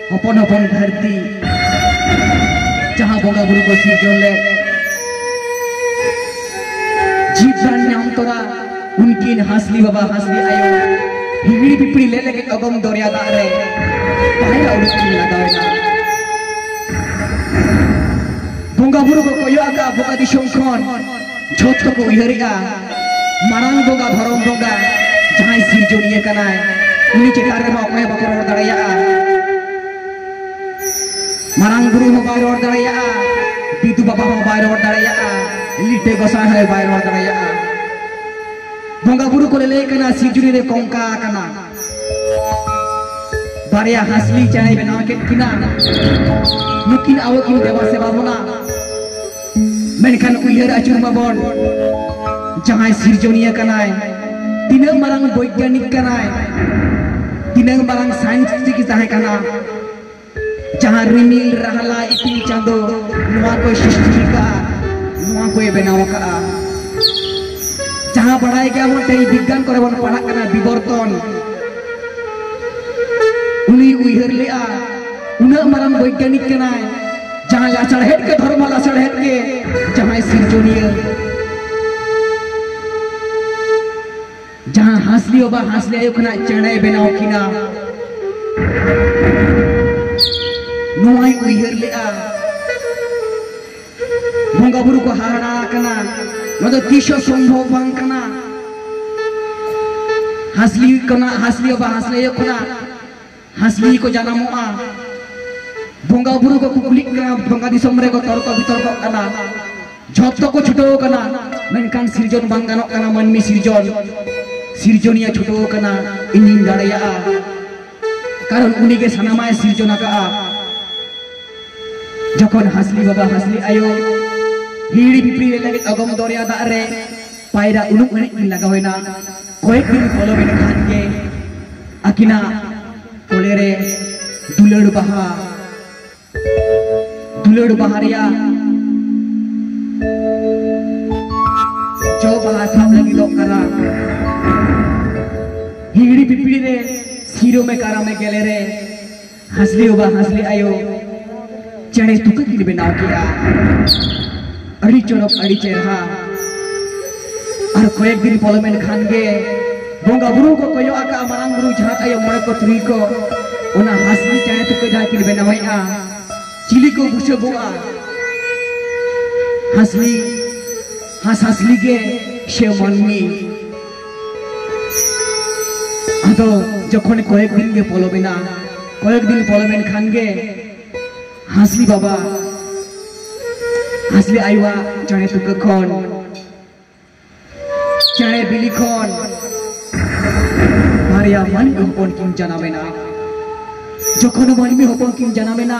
ᱦᱚᱯᱚᱱ ᱦᱚᱯᱚᱱ ᱫᱷᱟᱹᱨᱛᱤ ᱡᱟᱦᱟᱸ ᱵᱚᱸᱜᱟ ᱵᱩᱨᱩ ᱠᱚ ᱥᱤᱨᱡᱚᱱ ᱞᱮᱫ ᱡᱤᱵ ᱫᱟᱱ ᱧᱟᱢ ᱛᱚᱨᱟ ᱩᱱᱠᱤᱱ ᱦᱟᱸᱥᱞᱤ ᱵᱟᱵᱟ ᱦᱟᱸᱥᱞᱤ ᱟᱭᱳ ᱦᱤᱦᱤᱲᱤ ᱯᱤᱯᱤᱲᱤ ᱞᱮ ᱞᱟᱹᱜᱤᱫ ᱚᱜᱚᱢ ᱫᱚᱨᱭᱟ ᱫᱟᱜ ᱨᱮ ᱯᱟᱭᱨᱟ ᱩᱰᱩᱠ ᱠᱤᱱ ᱞᱟᱜᱟᱣᱮᱱᱟ ᱵᱚᱸᱜᱟ ᱵᱩᱨᱩ ᱠᱚ ᱠᱚᱭᱚᱜ ᱟᱠᱟᱫ ᱵᱚᱸᱜᱟ ᱫᱤᱥᱚᱢ ᱠᱷᱚᱱ ᱡᱷᱚᱛ ᱠᱚ ᱩᱭᱦᱟᱹᱨᱮᱜᱼᱟ ᱢᱟᱨᱟᱝ ᱵᱚᱸᱜᱟ ᱫᱷᱚᱨᱚᱢ ᱵᱚᱸᱜᱟ ᱡᱟᱦᱟᱸᱭ ᱥᱤᱨᱡᱚᱱᱤᱭᱟᱹ ᱠᱟᱱᱟᱭ ᱩᱱᱤ ᱪᱮᱛᱟᱱ ᱨᱮᱦᱚᱸ ᱚᱠᱚᱭ ᱵᱟᱠᱚ ᱨᱚᱲ ᱫᱟᱲᱮᱭᱟᱜᱼᱟ ᱢᱟᱨᱟᱝ ᱵᱩᱨᱩ ᱦᱚᱸ ᱵᱟᱭ ᱨᱚᱲ ᱫᱟᱲᱮᱭᱟᱜᱼᱟ ᱵᱤᱫᱩ ᱵᱟᱵᱟ ᱦᱚᱸ ᱵᱟᱭ ᱨᱚᱲ ᱫᱟᱲᱮᱭᱟᱜᱼᱟ ᱞᱤᱴᱟᱹ ᱜᱚᱥᱟᱭ ᱦᱚᱸ ᱵᱟᱭ ᱨᱚᱲ ᱫᱟᱲᱮᱭᱟᱜᱼᱟ ᱵᱚᱸᱜᱟ ᱵᱩᱨᱩ ᱠᱚ ᱞᱟᱹᱭ ᱠᱟᱱᱟ ᱥᱤᱨᱡᱚᱱᱤ ᱨᱮ ᱠᱚᱝᱠᱟ ᱟᱠᱟᱱᱟ ᱵᱟᱨᱭᱟ ᱦᱟᱥᱞᱤ ᱪᱮᱬᱮ ᱵᱮᱱᱟᱣ ᱠᱮᱫ ᱠᱤᱱᱟ ᱱᱩᱠᱤᱱ ᱟᱵᱚ ᱠᱤᱱ ᱫᱮᱵᱟ ᱥᱮᱵᱟ ᱵᱚᱱᱟ ᱢᱮᱱᱠᱷᱟᱱ ᱩᱭᱦᱟᱹᱨ ᱟᱹᱪᱩᱨ ᱢᱟᱵᱚᱱ ᱡᱟᱦᱟᱸᱭ ᱥᱤᱨᱡᱚᱱᱤᱭᱟᱹ ᱠᱟᱱᱟᱭ ᱛᱤᱱᱟᱹᱜ ᱢᱟᱨᱟᱝ ᱵᱳᱭᱜᱟᱱᱤᱠ ᱠᱟᱱᱟᱭ ᱛᱤᱱᱟᱹᱜ ᱢᱟᱨᱟᱝ ᱥᱟᱭᱮᱱᱥ ᱪᱤᱠᱤ ᱛᱟᱦᱮᱸ ᱠᱟᱱᱟ ᱡᱟᱦᱟᱸ ᱨᱤᱢᱤᱞ ᱨᱟᱦᱞᱟ ᱤᱯᱤᱞ ᱪᱟᱸᱫᱚ ᱱᱚᱣᱟ ᱠᱚᱭ ᱥᱨᱤᱥᱴᱤ ᱠᱟᱜᱼᱟ ᱱᱚᱣᱟ ᱠᱚᱭ ᱵᱮᱱᱟᱣ ᱠᱟᱜᱼᱟ ᱡᱟᱦᱟᱸ ᱵᱟᱲᱟᱭ ᱜᱮᱭᱟ ᱵᱚᱱ ᱛᱮᱦᱮᱧ ᱵᱤᱜᱽᱜᱟᱱ ᱠᱚᱨᱮ ᱵᱚᱱ ᱯᱟᱲᱦᱟᱜ ᱠᱟᱱᱟ ᱵᱤᱵᱚᱨᱛᱚᱱ ᱩᱱᱤ ᱩᱭᱦᱟᱹᱨ ᱞᱮᱜᱼᱟ ᱩᱱᱟᱹᱜ ᱢᱟᱨᱟᱝ ᱵᱳᱭᱜᱟᱱᱤᱠ ᱠᱟᱱᱟᱭ ᱡᱟᱦᱟᱸᱭ ᱞᱟᱥᱟᱲᱦᱮᱫ ᱜᱮ ᱫᱷᱚᱨᱢᱚ ᱞᱟᱥᱟᱲᱦᱮᱫ ᱜᱮ ᱡᱟᱦᱟᱸᱭ ᱥᱤᱨᱡᱚᱱᱤᱭᱟᱹ ᱡᱟᱦᱟᱸ ᱦᱟᱸᱥᱞᱤ ᱚᱵᱟ ᱦᱟᱸᱥᱞᱤ ᱟᱭᱳ ᱠᱷᱚᱱᱟᱜ ᱪᱮᱬᱮ ᱵᱮᱱᱟᱣ ᱠᱤᱱᱟ ᱱᱚᱣᱟᱭ ᱩᱭᱦᱟᱹᱨ ᱞᱮᱜᱼᱟ ᱵᱚᱸᱜᱟ ᱵᱩᱨᱩ ᱠᱚ ᱦᱟᱦᱟᱲᱟ ᱟᱠᱟᱱᱟ ᱱᱚᱣᱟ ᱫᱚ ᱛᱤᱥ ᱦᱚᱸ ᱥᱚᱢᱵᱷᱚᱵ ᱵᱟᱝ ᱠᱟᱱᱟ ᱦᱟᱸᱥᱞᱤ ᱠᱷᱚᱱᱟᱜ ᱦᱟᱸᱥᱞᱤ ᱚᱵᱟ ᱦᱟᱸᱥᱞᱤ ᱟᱭᱳ ᱠᱷᱚᱱᱟᱜ ᱦᱟᱸᱥᱞᱤ ᱠᱚ ᱡᱟᱱᱟᱢᱚᱜᱼᱟ ᱵᱚᱸᱜᱟ ᱵᱩᱨᱩ ᱠᱚ ᱠᱩᱠᱞᱤᱜ ᱠᱟᱱᱟ ᱵᱚᱸᱜᱟ ᱫᱤᱥᱚᱢ ᱨᱮᱠᱚ ᱛᱚᱨᱠᱚ ᱵᱤᱛᱚᱨᱠᱚᱜ ᱠᱟᱱᱟ ᱡᱷᱚᱛᱚ ᱠᱚ ᱪᱷᱩᱴᱟᱹᱣ ᱠᱟᱱᱟ ᱢᱮᱱᱠᱷᱟᱱ ᱥᱤᱨᱡᱚᱱ ᱵᱟᱝ ᱜᱟᱱᱚᱜ ᱠᱟᱱᱟ ᱢᱟᱹᱱᱢᱤ ᱥᱤᱨᱡᱚᱱ ᱥᱤᱨᱡᱚᱱᱤᱭᱟᱹ ᱪᱷᱩᱴᱟᱹᱣ ᱠᱟᱱᱟ ᱤᱧᱤᱧ ᱫᱟᱲᱮᱭᱟᱜᱼᱟ ᱠᱟᱨᱚᱱ ᱩᱱᱤ ᱜᱮ ᱥᱟᱱᱟᱢᱟᱭ ᱥᱤᱨᱡᱚᱱ ᱟᱠᱟᱜᱼᱟ ᱡᱚᱠᱷᱚᱱ ᱦᱟᱸᱥᱞᱤ ᱵᱟᱵᱟ ᱦᱟᱸᱥᱞᱤ ᱟᱭᱳ ᱦᱤᱲᱤ ᱯᱤᱯᱤᱲᱤ ᱨᱮ ᱞᱟᱹᱜᱤᱫ ᱚᱜᱚᱢ ᱫᱚᱨᱭᱟ ᱫᱟᱜ ᱨᱮ ᱯᱟᱭᱨᱟ ᱩᱱᱩᱢ ᱮᱱᱮᱡ ᱠᱤᱱ ᱞᱟᱜᱟᱣᱮᱱᱟ ᱠᱚᱭᱮᱠ ᱫᱤᱱ ᱯᱚᱞᱚᱢ ᱮᱱ ᱠᱷᱟᱱ ᱜᱮ ᱟᱹᱠᱤᱱᱟᱜ ᱠᱚᱞᱮ ᱨᱮ ᱫᱩᱞᱟᱹᱲ ᱵᱟᱦᱟ ᱫᱩᱞᱟᱹᱲ ᱵᱟᱦᱟ ᱨᱮᱭᱟᱜ ᱡᱚ ᱵᱟᱦᱟ ᱥᱟᱵ ᱞᱟᱹᱜᱤᱫᱚᱜ ᱠᱟᱱᱟ ᱦᱤᱦᱤᱲᱤ ᱯᱤᱯᱤᱲᱤ ᱨᱮ ᱥᱤᱨᱚᱢᱮ ᱠᱟᱨᱟᱢᱮ ᱜᱮᱞᱮ ᱨᱮ ᱦᱟᱸᱥᱞᱤ ᱵᱟᱵᱟ ᱦᱟᱸᱥᱞᱤ ᱟᱭᱳ ᱪᱮᱬᱮ ᱛᱩᱠᱟᱹ ᱠᱤᱱ ᱵᱮᱱᱟᱣ ᱠᱮᱜᱼᱟ ᱟᱹᱰᱤ ᱪᱚᱨᱚᱠ ᱟᱹᱰᱤ ᱪᱮᱨᱦᱟ ᱟᱨ ᱠᱚᱭᱮᱠ ᱫᱤᱱ ᱯᱚᱞᱚᱢᱮᱱ ᱠᱷᱟᱱ ᱜᱮ ᱵᱚᱸᱜᱟ ᱵᱩᱨᱩ ᱠᱚ ᱠᱚᱭᱚᱜ ᱟᱠᱟᱜᱼᱟ ᱢᱟᱨᱟᱝ ᱵᱩᱨᱩ ᱡᱟᱦᱟᱸ ᱟᱭᱳ ᱢᱚᱬᱮ ᱠᱚ ᱛᱩᱨᱩᱭ ᱠᱚ ᱚᱱᱟ ᱦᱟᱸᱥᱞᱤ ᱪᱮᱬᱮ ᱛᱩᱠᱟᱹ ᱡᱟᱦᱟᱸ ᱠᱤᱱ ᱵᱮᱱᱟᱣᱮᱜᱼᱟ ᱪᱤᱞᱤ ᱠᱚ ᱵᱩᱥᱟᱹᱜᱚᱜᱼᱟ ᱦᱟᱸᱥᱞᱤ ᱦᱟᱸᱥ ᱦᱟᱸᱥᱞᱤ ᱜᱮ ᱥᱮ ᱢᱟᱹᱱᱢᱤ ᱟᱫᱚ ᱡᱚᱠᱷᱚᱱ ᱠᱚᱭᱮᱠ ᱫᱤᱱ ᱜᱮ ᱯᱚᱞᱚᱢᱮᱱᱟ ᱠᱚᱭᱮᱠ ᱫᱤᱱ ᱯᱚᱞᱚᱢᱮᱱ ᱠᱷᱟᱱ ᱜᱮ ᱦᱟᱸᱥᱞᱤ ᱵᱟᱵᱟ ᱦᱟᱸᱥᱞᱤ ᱟᱭᱳᱣᱟ ᱪᱟᱬᱮ ᱛᱩᱠᱟᱹ ᱠᱷᱚᱱ ᱪᱟᱬᱮ ᱵᱤᱞᱤ ᱠᱷᱚᱱ ᱵᱟᱨᱭᱟ ᱢᱟᱹᱱᱢᱤ ᱦᱚᱯᱚᱱ ᱠᱤᱱ ᱡᱟᱱᱟᱢᱮᱱᱟ ᱡᱚᱠᱷᱚᱱ ᱢᱟᱹᱱᱢᱤ ᱦᱚᱯᱚᱱ ᱠᱤᱱ ᱡᱟᱱᱟᱢᱮᱱᱟ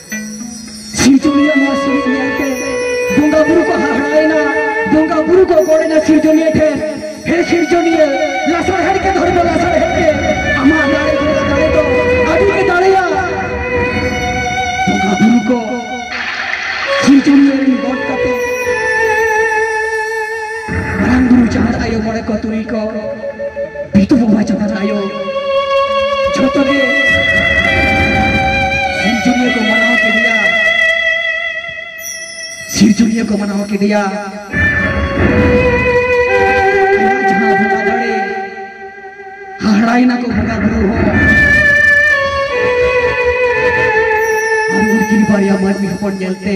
ᱥᱤᱨᱡᱚᱱᱤᱭᱟᱹ ᱱᱚᱣᱟ ᱥᱤᱨᱤᱡᱽ ᱧᱮᱞᱛᱮ ᱵᱚᱸᱜᱟ ᱵᱩᱨᱩ ᱠᱚ ᱦᱟᱦᱟᱲᱟᱭᱮᱱᱟ ᱵᱚᱸᱜᱟ ᱵᱩᱨᱩ ᱠᱚ ᱜᱚᱲᱮᱱᱟ ᱥᱤᱨᱡᱚᱱᱤᱭᱟᱹ ᱴᱷᱮᱱ ᱦᱮ ᱥᱤᱨᱡᱚᱱᱤᱭᱟᱹ ᱞᱟᱥᱟᱲᱦᱮᱫ ᱜᱮ ᱫᱷᱚᱨᱮ ᱫᱚ ᱞᱟᱥᱟᱲᱦᱮᱫ ᱜᱮ ᱟᱢᱟᱜ ᱫᱟᱲᱮ ᱫᱚ ᱫᱟᱲᱮ ᱫᱚ ᱟᱹᱰᱤ ᱜᱮ ᱫᱟᱲᱮᱭᱟ ᱵᱚᱸᱜᱟ ᱵᱩᱨᱩ ᱠᱚ ᱥᱤᱨᱡᱚᱱᱤᱭᱟᱹ ᱨᱮᱱ ᱜᱚᱴ ᱠᱟᱛᱮ ᱢᱟᱨᱟᱝ ᱵᱩᱨᱩ ᱡᱟᱦᱟᱸ ᱟᱭᱳ ᱢᱚᱬᱮ ᱠᱚ ᱛᱩᱨᱩᱭ ᱠᱚ ᱵᱤᱴᱩ ᱵᱚᱸᱜᱟ ᱡᱟᱦᱟᱸ ᱟᱭᱳ ᱡᱷᱚᱛᱚ ᱜᱮ ᱥᱤᱨᱡᱚᱱᱤᱭᱟᱹ ᱠᱚ ᱢᱟᱱᱟᱣ ᱠᱮᱫᱮᱭᱟ ᱥᱤᱨᱡᱚᱱᱤᱭᱟᱹ ᱠᱚ ᱢᱟᱱᱟᱣ ᱠᱮᱫᱮᱭᱟ ᱟᱭᱟᱜ ᱡᱟᱦᱟᱸ ᱵᱚᱸᱜᱟ ᱫᱟᱲᱮ ᱦᱟᱦᱟᱲᱟᱭᱮᱱᱟ ᱠᱚ ᱵᱚᱸᱜᱟ ᱵᱩᱨᱩ ᱦᱚᱸ ᱟᱨ ᱩᱱᱠᱤᱱ ᱵᱟᱨᱭᱟ ᱢᱟᱹᱱᱢᱤ ᱦᱚᱯᱚᱱ ᱧᱮᱞᱛᱮ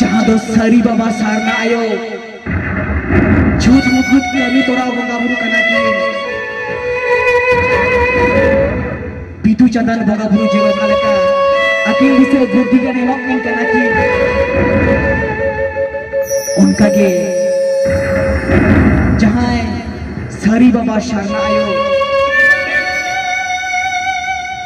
ᱡᱟᱦᱟᱸ ᱫᱚ ᱥᱟᱹᱨᱤ ᱵᱟᱵᱟ ᱥᱟᱨᱱᱟ ᱟᱭᱳ ᱡᱷᱩᱴ ᱢᱩᱠᱩᱴ ᱠᱟᱹᱢᱤ ᱛᱚᱨᱟᱣ ᱵᱚᱸᱜᱟ ᱵᱩᱨᱩ ᱠᱟᱱᱟ ᱠᱤᱱ ᱵᱤᱫᱩ ᱪᱟᱸᱫᱟᱱ ᱵᱚᱸᱜᱟ ᱵᱩᱨᱩ ᱡᱮᱣᱮᱫ ᱚᱠᱟ ᱞᱮᱠᱟ ᱟᱹᱠᱤᱱ ᱫᱤᱥᱟᱹ ᱵᱩᱫᱽᱫᱷᱤ ᱜᱟᱱ ᱮᱢᱚᱜ ᱠᱤᱱ ᱠᱟᱱᱟ ᱠᱤᱱ ᱚᱱᱠᱟᱜᱮ ᱡᱟᱦᱟᱸᱭ ᱥᱟᱹᱨᱤ ᱵᱟᱵᱟ ᱥᱟᱨᱱᱟ ᱟᱭᱳ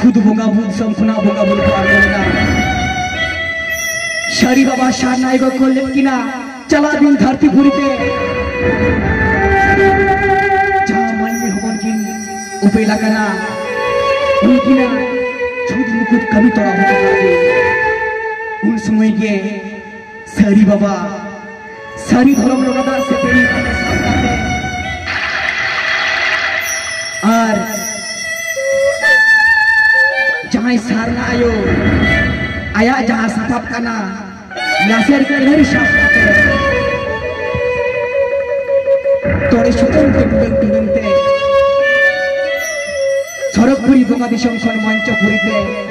ᱠᱷᱩᱫ ᱵᱚᱸᱜᱟ ᱵᱩᱫ ᱥᱚᱢ ᱠᱷᱚᱱᱟᱜ ᱵᱚᱸᱜᱟ ᱵᱩᱫ ᱠᱚ ᱟᱬᱜᱚ ᱞᱮᱱᱟ ᱥᱟᱹᱨᱤ ᱵᱟᱵᱟ ᱥᱟᱨᱱᱟᱭ ᱠᱚ ᱠᱷᱚᱞ ᱞᱮᱫ ᱠᱤᱱᱟ ᱪᱟᱞᱟᱜ ᱫᱤᱱ ᱫᱷᱟᱹᱨᱛᱤ ᱯᱩᱨᱤ ᱛᱮ ᱡᱟᱦᱟᱸ ᱢᱟᱹᱱᱢᱤ ᱦᱚᱯᱚᱱ ᱠᱤᱱ ᱩᱯᱮᱞ ᱟᱠᱟᱱᱟ ᱩᱱᱠᱤᱱᱟᱜ ᱪᱷᱩᱛ ᱢᱩᱠᱩᱛ ᱠᱟᱹᱢᱤ ᱛᱚᱨᱟ ᱦᱚᱴᱚ ᱠᱟᱜ ᱩᱱ ᱥᱚᱢᱚᱭ ᱜᱮ ᱥᱟᱹᱨᱤ ᱵᱟᱵᱟ ᱥᱟᱹᱨᱤ ᱫᱷᱚᱨᱚᱢ ᱞᱚᱜᱟ ᱫᱟᱜ ᱥᱮ ᱯᱮᱲᱤ ᱟᱨ ᱡᱟᱦᱟᱸᱭ ᱥᱟᱨᱱᱟ ᱟᱭᱳ ᱟᱭᱟᱜ ᱡᱟᱦᱟᱸ ᱥᱟᱯᱟᱵ ᱠᱟᱱᱟ ᱞᱟᱥᱮᱨ ᱠᱟᱹᱨᱦᱟᱹᱨᱤ ᱥᱟᱵ ᱠᱟᱛᱮ ᱛᱚᱲᱮ ᱥᱩᱛᱟᱹᱢ ᱛᱮ ᱴᱩᱰᱟᱹᱝ ᱴᱩᱰᱟᱹᱝ ᱛᱮ ᱥᱚᱨᱚᱜᱽᱯᱩᱨᱤ ᱵᱚᱸᱜᱟ ᱫᱤᱥᱚᱢ ᱠᱷᱚᱱ ᱢᱚᱧᱪᱚᱯᱩᱨᱤ ᱛᱮ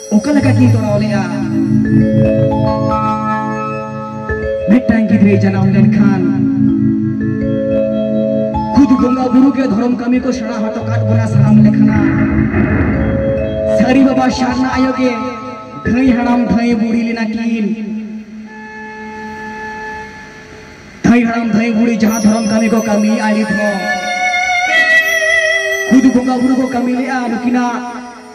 ᱚᱠᱟ ᱞᱮᱠᱟ ᱠᱤᱱ ᱛᱚᱲᱟᱣ ᱞᱮᱜᱼᱟ ᱢᱤᱫᱴᱟᱝ ᱜᱤᱫᱽᱨᱟᱹ ᱡᱟᱱᱟᱢ ᱞᱮᱱᱠᱷᱟᱱ ᱠᱷᱩᱫ ᱵᱚᱸᱜᱟ ᱵᱩᱨᱩ ᱜᱮ ᱫᱷᱚᱨᱚᱢ ᱠᱟᱹᱢᱤ ᱠᱚ ᱥᱮᱬᱟ ᱦᱚᱴᱚ ᱠᱟᱫ ᱵᱚᱱᱟ ᱥᱟᱱᱟᱢ ᱞᱮᱠᱟᱱᱟ ᱥᱟᱹᱨᱤ ᱵᱟᱵᱟ ᱥᱟᱨᱱᱟ ᱟᱭᱳ ᱜᱮ ᱫᱷᱟᱹᱭ ᱦᱟᱲᱟᱢ ᱫᱷᱟᱹᱭ ᱵᱩᱲᱦᱤ ᱞᱮᱱᱟ ᱠᱤᱱ ᱫᱷᱟᱹᱭ ᱦᱟᱲᱟᱢ ᱫᱷᱟᱹᱭ ᱵᱩᱲᱦᱤ ᱡᱟᱦᱟᱸ ᱫᱷᱚᱨᱚᱢ ᱠᱟᱹᱢᱤ ᱠᱚ ᱠᱟᱹᱢᱤ ᱟᱹᱰᱤ ᱫᱷᱚ ᱠᱷᱩᱫ ᱵᱚᱸᱜᱟ ᱵᱩᱨᱩ ᱠᱚ ᱠᱟᱹᱢᱤ ᱞᱮᱜᱼᱟ ᱱᱩᱠᱤᱱᱟᱜ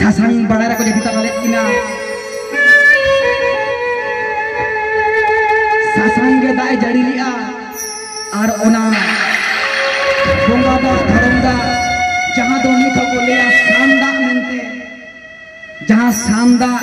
ᱥᱟᱥᱟᱝ ᱵᱟᱲᱟᱭ ᱨᱮᱠᱚ ᱡᱟᱹᱯᱤᱫ ᱛᱟᱞᱟ ᱞᱮᱫ ᱠᱤᱱᱟ ᱥᱟᱥᱟᱝ ᱜᱮ ᱫᱟᱜ ᱮ ᱡᱟᱹᱲᱤ ᱞᱮᱜᱼᱟ ᱟᱨ ᱚᱱᱟ ᱵᱚᱸᱜᱟ ᱫᱟᱜ ᱫᱷᱚᱨᱚᱢ ᱫᱟᱜ ᱡᱟᱦᱟᱸ ᱫᱚ ᱱᱤᱛ ᱦᱚᱸᱠᱚ ᱞᱟᱹᱭᱟ ᱥᱟᱱ ᱫᱟᱜ ᱢᱮᱱᱛᱮ ᱡᱟᱦᱟᱸ ᱥᱟᱱ ᱫᱟᱜ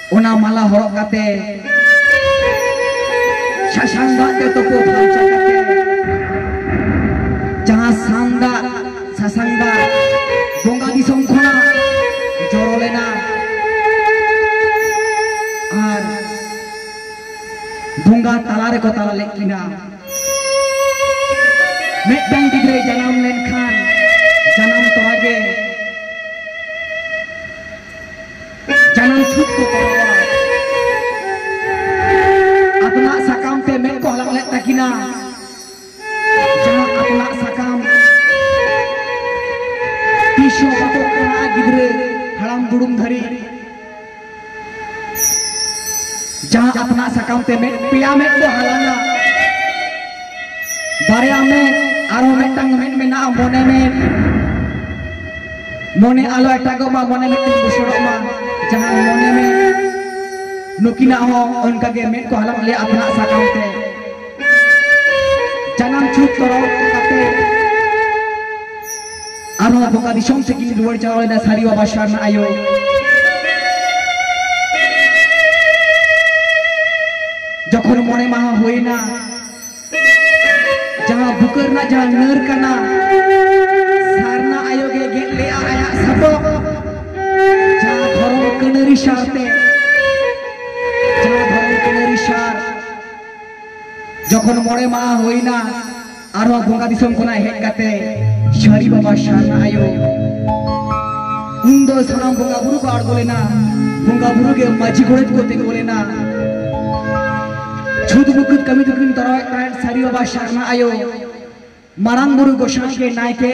ᱚᱱᱟ ᱢᱟᱞᱟ ᱦᱚᱨᱚᱜ ᱠᱟᱛᱮ ᱥᱟᱥᱟᱝ ᱫᱟᱜ ᱛᱮ ᱛᱩᱯᱩ ᱯᱷᱟᱨᱪᱟ ᱠᱟᱛᱮ ᱡᱟᱦᱟᱸ ᱥᱟᱱ ᱫᱟᱜ ᱥᱟᱥᱟᱝ ᱫᱟᱜ ᱵᱚᱸᱜᱟ ᱫᱤᱥᱚᱢ ᱠᱷᱚᱱᱟᱜ ᱡᱚᱨᱚ ᱞᱮᱱᱟ ᱟᱨ ᱵᱚᱸᱜᱟ ᱛᱟᱞᱟ ᱨᱮᱠᱚ ᱛᱟᱞᱟ ᱞᱮᱫ ᱠᱤᱱᱟ ᱢᱤᱫᱴᱟᱝ ᱜᱤᱫᱽᱨᱟᱹ ᱡᱟᱱᱟᱢ ᱞᱮᱱᱠᱷᱟᱱ ᱡᱟᱱᱟᱢ ᱛᱚᱨᱟ ᱜᱮ ᱡᱟᱱᱟᱢ ᱪᱷᱩᱴ ᱠᱚ ᱠᱚᱨᱟᱣᱟ ᱟᱛᱱᱟᱜ ᱥᱟᱠᱟᱢ ᱛᱮ ᱢᱮᱫ ᱠᱚ ᱦᱟᱞᱟᱝ ᱞᱮᱫ ᱛᱟᱹᱠᱤᱱᱟ ᱡᱟᱦᱟᱸ ᱟᱛᱱᱟᱜ ᱥᱟᱠᱟᱢ ᱛᱤᱥ ᱦᱚᱸ ᱵᱟᱠᱚ ᱠᱟᱱᱟ ᱜᱤᱫᱽᱨᱟᱹ ᱦᱟᱲᱟᱢ ᱫᱩᱲᱩᱢ ᱫᱷᱟᱹᱨᱤᱡ ᱡᱟᱦᱟᱸ ᱟᱛᱱᱟᱜ ᱥᱟᱠᱟᱢ ᱛᱮ ᱢᱮᱫ ᱯᱮᱭᱟ ᱢᱮᱫ ᱠᱚ ᱦᱟᱞᱟᱝᱟ ᱵᱟᱨᱭᱟ ᱢᱮ ᱟᱨᱦᱚᱸ ᱢᱤᱫᱴᱟᱝ ᱢᱮᱱ ᱢᱮᱱᱟᱜᱼᱟ ᱢᱚᱱᱮ ᱢᱮᱱ ᱢᱚᱱᱮ ᱟᱞᱚ ᱮᱴᱟᱜᱚᱜ ᱢᱟ ᱢᱚᱱᱮ ᱢᱤᱫᱴᱟᱝ ᱵᱩᱥᱟᱹᱲᱚᱜ ᱢᱟ ᱡᱟᱦᱟᱸ ᱢᱚᱱᱮ ᱢᱮ ᱱᱩᱠᱤᱱᱟᱜ ᱦᱚᱸ ᱚᱱᱠᱟᱜᱮ ᱢᱮᱫ ᱠᱚ ᱦᱟᱞᱟᱝ ᱞᱮᱭᱟ ᱟᱯᱱᱟᱜ ᱥᱟᱠᱟᱢ ᱛᱮ ᱡᱟᱱᱟᱢ ᱪᱷᱩᱴ ᱛᱚᱨᱚᱞ ᱠᱟᱛᱮ ᱟᱨᱚ ᱵᱚᱸᱜᱟ ᱫᱤᱥᱚᱢ ᱥᱮᱫ ᱠᱤᱱ ᱨᱩᱣᱟᱹᱲ ᱪᱟᱞᱟᱣ ᱞᱮᱱᱟ ᱥᱟᱹᱨᱤ ᱵᱟᱵᱟ ᱥᱟᱨᱱᱟ ᱟᱭᱳ ᱡᱚᱠᱷᱚᱱ ᱢᱚᱬᱮ ᱢᱟᱦᱟ ᱦᱩᱭᱱᱟ ᱡᱟᱦᱟᱸ ᱵᱩᱠᱟᱹ ᱨᱮᱱᱟᱜ ᱡᱟᱦᱟᱸ ᱱᱟᱹᱨ ᱠᱟᱱᱟ ᱥᱟᱨᱱᱟ ᱟᱭᱳ ᱜᱮ ᱜᱮᱫ ᱞᱮᱜᱼᱟ ᱟᱭᱟᱜ ᱥᱟᱯᱟᱵ ᱡᱟᱦᱟᱸ ᱫᱷᱚᱨᱚᱢ ᱠᱟᱹᱱᱟᱹᱨᱤ ᱥᱟᱨᱛᱮ ᱡᱟᱦᱟᱸ ᱫᱷᱚᱨᱚᱢ ᱠᱟᱹᱱᱟᱹᱨᱤ ᱥᱟᱨ ᱡᱚᱠᱷᱚᱱ ᱢᱚᱬᱮ ᱢᱟᱦᱟ ᱦᱩᱭᱱᱟ ᱟᱨᱦᱚᱸ ᱵᱚᱸᱜᱟ ᱫᱤᱥᱚᱢ ᱠᱷᱚᱱᱟᱜ ᱦᱮᱡ ᱠᱟᱛᱮ ᱥᱟᱹᱨᱤ ᱵᱟᱵᱟ ᱥᱟᱨᱱᱟ ᱟᱭᱳ ᱩᱱ ᱫᱚ ᱥᱟᱱᱟᱢ ᱵᱚᱸᱜᱟ ᱵᱩᱨᱩ ᱠᱚ ᱟᱬᱜᱚ ᱞᱮᱱᱟ ᱵᱚᱸᱜᱟ ᱵᱩᱨᱩ ᱜᱮ ᱢᱟᱹᱡᱷᱤ ᱜᱚᱰᱮᱛ ᱠᱚ ᱛᱤᱸᱜᱩ ᱞᱮᱱᱟ ᱪᱷᱩᱛ ᱢᱩᱠᱩᱛ ᱠᱟᱹᱢᱤ ᱫᱚᱠᱤᱱ ᱛᱚᱨᱟᱣᱮᱫ ᱛᱟᱦᱮᱸᱫ ᱥᱟᱹᱨᱤ ᱵᱟᱵᱟ ᱥᱟᱨᱱᱟ ᱟᱭᱳ ᱢᱟᱨᱟᱝ ᱵᱩᱨᱩ ᱜᱚᱥᱟᱬᱤ ᱜᱮ ᱱᱟᱭᱠᱮ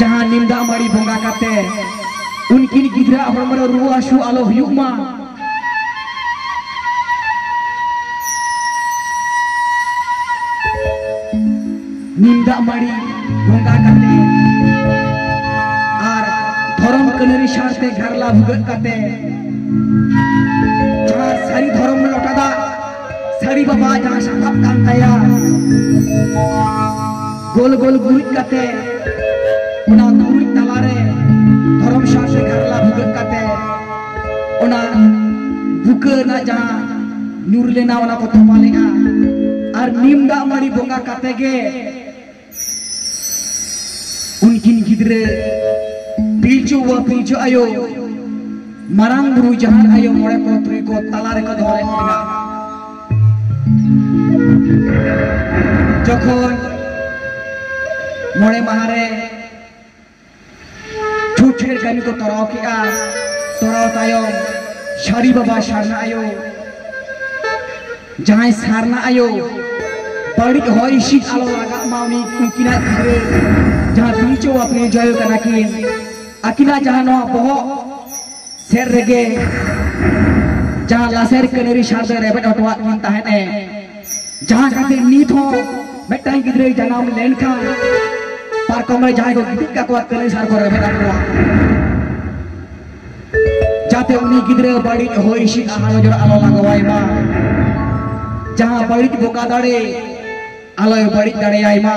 ᱡᱟᱦᱟᱸ ᱱᱤᱢ ᱫᱟᱜ ᱢᱟᱹᱲᱤ ᱵᱚᱸᱜᱟ ᱠᱟᱛᱮ ᱩᱱᱠᱤᱱ ᱜᱤᱫᱽᱨᱟᱹ ᱦᱚᱲᱢᱚ ᱨᱮ ᱨᱩᱣᱟᱹ ᱦᱟᱹᱥᱩ ᱟᱞᱚ ᱦᱩᱭᱩᱜ ᱢᱟ ᱱᱤᱢ ᱫᱟᱜ ᱢᱟᱹᱲᱤ ᱵᱚᱸᱜᱟ ᱠᱟᱛᱮ ᱟᱨ ᱫᱷᱚᱨᱚᱢ ᱠᱟᱹᱱᱟᱹᱨᱤ ᱥᱟᱶᱛᱮ ᱜᱷᱟᱨᱞᱟ ᱵᱷᱩᱜᱟᱹᱜ ᱠᱟᱛᱮ ᱥᱟᱹᱨᱤ ᱵᱟᱵᱟ ᱡᱟᱦᱟᱸ ᱥᱟᱯᱟᱵ ᱠᱟᱱ ᱛᱟᱭᱟ ᱜᱳᱞ ᱜᱳᱞ ᱜᱩᱨᱤᱡ ᱠᱟᱛᱮ ᱚᱱᱟ ᱜᱩᱨᱤᱡ ᱛᱟᱞᱟᱨᱮ ᱫᱷᱚᱨᱚᱢ ᱥᱟᱶ ᱥᱮ ᱜᱟᱨᱞᱟ ᱵᱷᱩᱜᱟᱹᱜ ᱠᱟᱛᱮ ᱚᱱᱟ ᱵᱩᱠᱟᱹ ᱨᱮᱱᱟᱜ ᱡᱟᱦᱟᱸ ᱧᱩᱨ ᱞᱮᱱᱟ ᱚᱱᱟ ᱠᱚ ᱛᱚᱯᱟ ᱞᱮᱱᱟ ᱟᱨ ᱱᱤᱢ ᱫᱟᱜ ᱢᱟᱹᱲᱤ ᱵᱚᱸᱜᱟ ᱠᱟᱛᱮ ᱜᱮ ᱩᱱᱠᱤᱱ ᱜᱤᱫᱽᱨᱟᱹ ᱯᱤᱞᱪᱩ ᱵᱟᱵᱟ ᱯᱤᱞᱪᱩ ᱟᱭᱳ ᱢᱟᱨᱟᱝ ᱵᱩᱨᱩ ᱡᱟᱦᱟᱸ ᱟᱭᱳ ᱢᱚᱬᱮ ᱠᱚ ᱛᱩᱨᱩᱭ ᱠᱚ ᱛᱟᱞᱟ ᱨᱮᱠᱚ ᱫᱚᱦᱚ ᱞᱮᱫ ᱠᱤᱱᱟ ᱡᱚᱠᱷᱚᱱ ᱢᱚᱬᱮ ᱢᱟᱦᱟ ᱨᱮ ᱪᱷᱩᱴᱷᱮᱨ ᱠᱟᱹᱢᱤ ᱠᱚ ᱛᱚᱨᱟᱣ ᱠᱮᱜᱼᱟ ᱛᱚᱨᱟᱣ ᱛᱟᱭᱚᱢ ᱥᱟᱹᱨᱤ ᱵᱟᱵᱟ ᱥᱟᱨᱱᱟ ᱟᱭᱳ ᱡᱟᱦᱟᱸᱭ ᱥᱟᱨᱱᱟ ᱟᱭᱳ ᱵᱟᱹᱲᱤᱡ ᱦᱚᱭ ᱦᱤᱸᱥᱤᱫ ᱟᱞᱚ ᱞᱟᱜᱟᱜ ᱢᱟ ᱩᱱᱤ ᱩᱱᱠᱤᱱᱟᱜ ᱜᱤᱫᱽᱨᱟᱹ ᱡᱟᱦᱟᱸ ᱵᱤᱨᱪᱚ ᱵᱟᱯᱮ ᱡᱚᱭᱚ ᱠᱟᱱᱟ ᱠᱤᱱ ᱟᱹᱠᱤᱱᱟᱜ ᱡᱟᱦᱟᱸ ᱱᱚᱣᱟ ᱵᱚᱦᱚᱜ ᱥᱮᱫ ᱨᱮᱜᱮ ᱡᱟᱦᱟᱸ ᱞᱟᱥᱮᱨ ᱠᱟᱹᱱᱟᱹᱨᱤ ᱥᱟᱨ ᱫᱚᱭ ᱨᱮᱵᱮᱫ ᱦᱚᱴᱚᱣᱟᱫ ᱠᱤᱱ ᱛᱟᱦᱮᱸᱫ ᱮ ᱡᱟᱦᱟᱸ ᱠᱷᱟᱹᱛᱤᱨ ᱱᱤᱛ ᱦᱚᱸ ᱢᱤᱫᱴᱟᱝ ᱜᱤᱫᱽᱨᱟᱹᱭ ᱡᱟᱱᱟᱢ ᱞᱮᱱᱠᱷᱟᱱ ᱯᱟᱨᱠᱚᱢ ᱨᱮ ᱡᱟᱦᱟᱸᱭ ᱠᱚ ᱜᱤᱛᱤᱡ ᱠᱟᱠᱚᱣᱟ ᱛᱟᱹᱞᱤ ᱥᱟᱨ ᱠᱚ ᱨᱮᱵᱮᱫ ᱟᱠᱚᱣᱟ ᱡᱟᱛᱮ ᱩᱱᱤ ᱜᱤᱫᱽᱨᱟᱹ ᱵᱟᱹᱲᱤᱡ ᱦᱚᱭ ᱦᱤᱸᱥᱤᱫ ᱟᱦᱟ ᱱᱚᱡᱚᱨ ᱟᱞᱚ ᱞᱟᱜᱟᱣᱟᱭ ᱢᱟ ᱡᱟᱦᱟᱸ ᱵᱟᱹᱲᱤᱡ ᱵᱚᱠᱟ ᱫᱟᱲᱮ ᱟᱞᱚᱭ ᱵᱟᱹᱲᱤᱡ ᱫᱟᱲᱮᱭᱟᱭ ᱢᱟ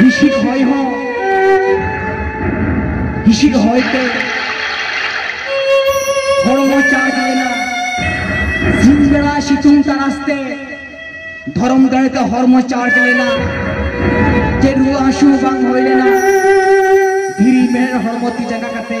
ᱦᱤᱥᱤᱫ ᱦᱚᱭ ᱦᱚᱸ ᱦᱤᱥᱤᱫ ᱦᱚᱭ ᱛᱮ ᱦᱚᱲᱢᱚ ᱪᱟᱨᱡᱽ ᱞᱮᱱᱟ ᱥᱤᱧ ᱵᱮᱲᱟ ᱥᱤᱛᱩᱝ ᱛᱟᱨᱟᱥ ᱛᱮ ᱫᱷᱚᱨᱚᱢ ᱫᱟᱲᱮ ᱛᱮ ᱦᱚᱲᱢᱚ ᱪᱟᱨᱡᱽ ᱞᱮᱱᱟ ᱪᱮᱫ ᱨᱩᱣᱟᱹ ᱦᱟᱹᱥᱩ ᱵᱟᱝ ᱦᱩᱭ ᱞᱮᱱᱟ ᱫᱷᱤᱨᱤ ᱢᱮᱬᱦᱮᱫ ᱦᱚᱲᱢᱚ ᱛᱤ ᱡᱟᱸᱜᱟ ᱠᱟᱛᱮ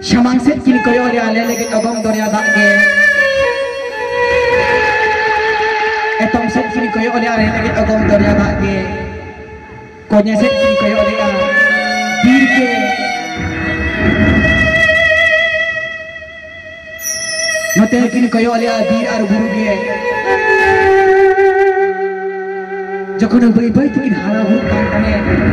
ᱥᱟᱢᱟᱝ ᱥᱮᱫ ᱠᱤᱱ ᱠᱚᱭᱚᱜ ᱨᱮ ᱟᱞᱮ ᱞᱟᱹᱜᱤᱫ ᱚᱜᱚᱢ ᱫᱚᱨᱭᱟ ᱫᱟᱜ ᱜᱮ ᱮᱛᱚᱢ ᱥᱮᱫ ᱠᱤᱱ ᱠᱚᱭᱚᱜ ᱨᱮ ᱟᱞᱮ ᱞᱟᱹᱜᱤᱫ ᱚᱜᱚᱢ ᱫᱚᱨᱭᱟ ᱫᱟᱜ ᱜᱮ ᱠᱚᱧᱮ ᱥᱮᱫ ᱠᱤᱱ ᱠᱚᱭᱚᱜ ᱨᱮᱭᱟ ᱵᱤᱨ ᱜᱮ ᱱᱚᱛᱮ ᱠᱤᱱ ᱠᱚᱭᱚᱜ ᱨᱮᱭᱟ ᱵᱤᱨ ᱟᱨ ᱵᱩᱨᱩ ᱜᱮ ᱡᱚᱠᱷᱚᱱ ᱵᱟᱹᱭ ᱵᱟᱹᱭ ᱛᱮᱠᱤᱱ ᱦᱟᱨᱟ ᱵᱩᱨᱩᱜ ᱠᱟᱱ ᱛᱟᱦᱮᱸᱫ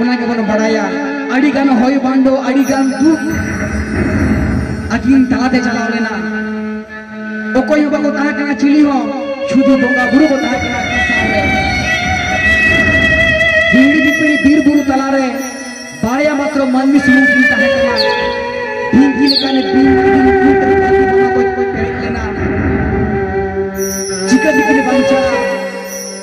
ᱚᱱᱟ ᱜᱮᱵᱚᱱ ᱵᱟᱲᱟᱭᱟ ᱟᱹᱰᱤ ᱜᱟᱱ ᱦᱚᱭ ᱵᱟᱱᱰᱚ ᱟᱹᱰᱤ ᱜᱟᱱ ᱫᱩᱠ ᱟᱹᱠᱤᱱ ᱛᱟᱞᱟᱛᱮ ᱪᱟᱞᱟᱣ ᱞᱮᱱᱟ ᱚᱠᱚᱭ ᱦᱚᱸ ᱵᱟᱠᱚ ᱛᱟᱦᱮᱸ ᱠᱟᱱᱟ ᱪᱤᱞᱤ ᱦᱚᱸ ᱥᱩᱫᱷᱩ ᱵᱚᱸᱜᱟ ᱵᱩᱨᱩ ᱠᱚ ᱛᱟᱦᱮᱸ ᱠᱟᱱᱟ ᱦᱤᱲᱤ ᱫᱤᱯᱤᱲᱤ ᱵᱤᱨ ᱵᱩᱨᱩ ᱛᱟᱞᱟᱨᱮ ᱵᱟᱨᱭᱟ ᱢᱟᱛᱨᱚ ᱢᱟᱹᱱᱢᱤ ᱥᱩᱢᱩᱝ ᱠᱤᱱ ᱛᱟᱦᱮᱸ ᱠᱟᱱᱟ ᱰᱷᱤᱝᱠᱤ ᱞᱮᱠᱟᱱ ᱵᱤᱨ ᱵᱩᱨᱩ ᱛᱟᱞᱟᱨᱮ ᱪᱤᱠᱟᱹ ᱛᱮᱠᱤᱱ ᱵᱟᱧᱪᱟᱜᱼᱟ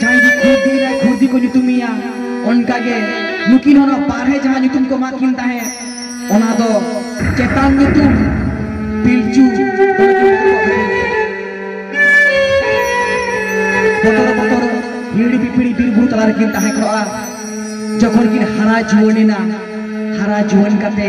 ᱡᱟᱦᱟᱸᱭ ᱜᱮ ᱠᱷᱩᱨᱫᱤ ᱨᱮ ᱠᱷᱩᱨᱫᱤ ᱠᱚ ᱧᱩᱛᱩᱢᱮᱭᱟ ᱚᱱᱠᱟ ᱜᱮ ᱱᱩᱠᱤᱱ ᱦᱚᱸ ᱵᱟᱨᱦᱮ ᱡᱟᱦᱟᱸ ᱧᱩᱛᱩᱢ ᱠᱚ ᱮᱢᱟᱫ ᱠᱤᱱ ᱛᱟᱦᱮᱸᱫ ᱚᱱᱟ ᱫᱚ ᱪᱮᱛᱟᱱ ᱧᱩᱛᱩᱢ ᱯᱤᱞᱪᱩ ᱵᱚᱛᱚᱨ ᱵᱚᱛᱚᱨ ᱦᱤᱲᱤ ᱯᱤᱯᱤᱲᱤ ᱵᱤᱨ ᱵᱩᱨᱩ ᱛᱟᱞᱟ ᱨᱮᱠᱤᱱ ᱛᱟᱦᱮᱸ ᱠᱚᱜᱼᱟ ᱡᱚᱠᱷᱚᱱ ᱠᱤᱱ ᱦᱟᱨᱟ ᱡᱩᱣᱟᱹᱱ ᱮᱱᱟ ᱦᱟᱨᱟ ᱡᱩᱣᱟᱹᱱ ᱠᱟᱛᱮ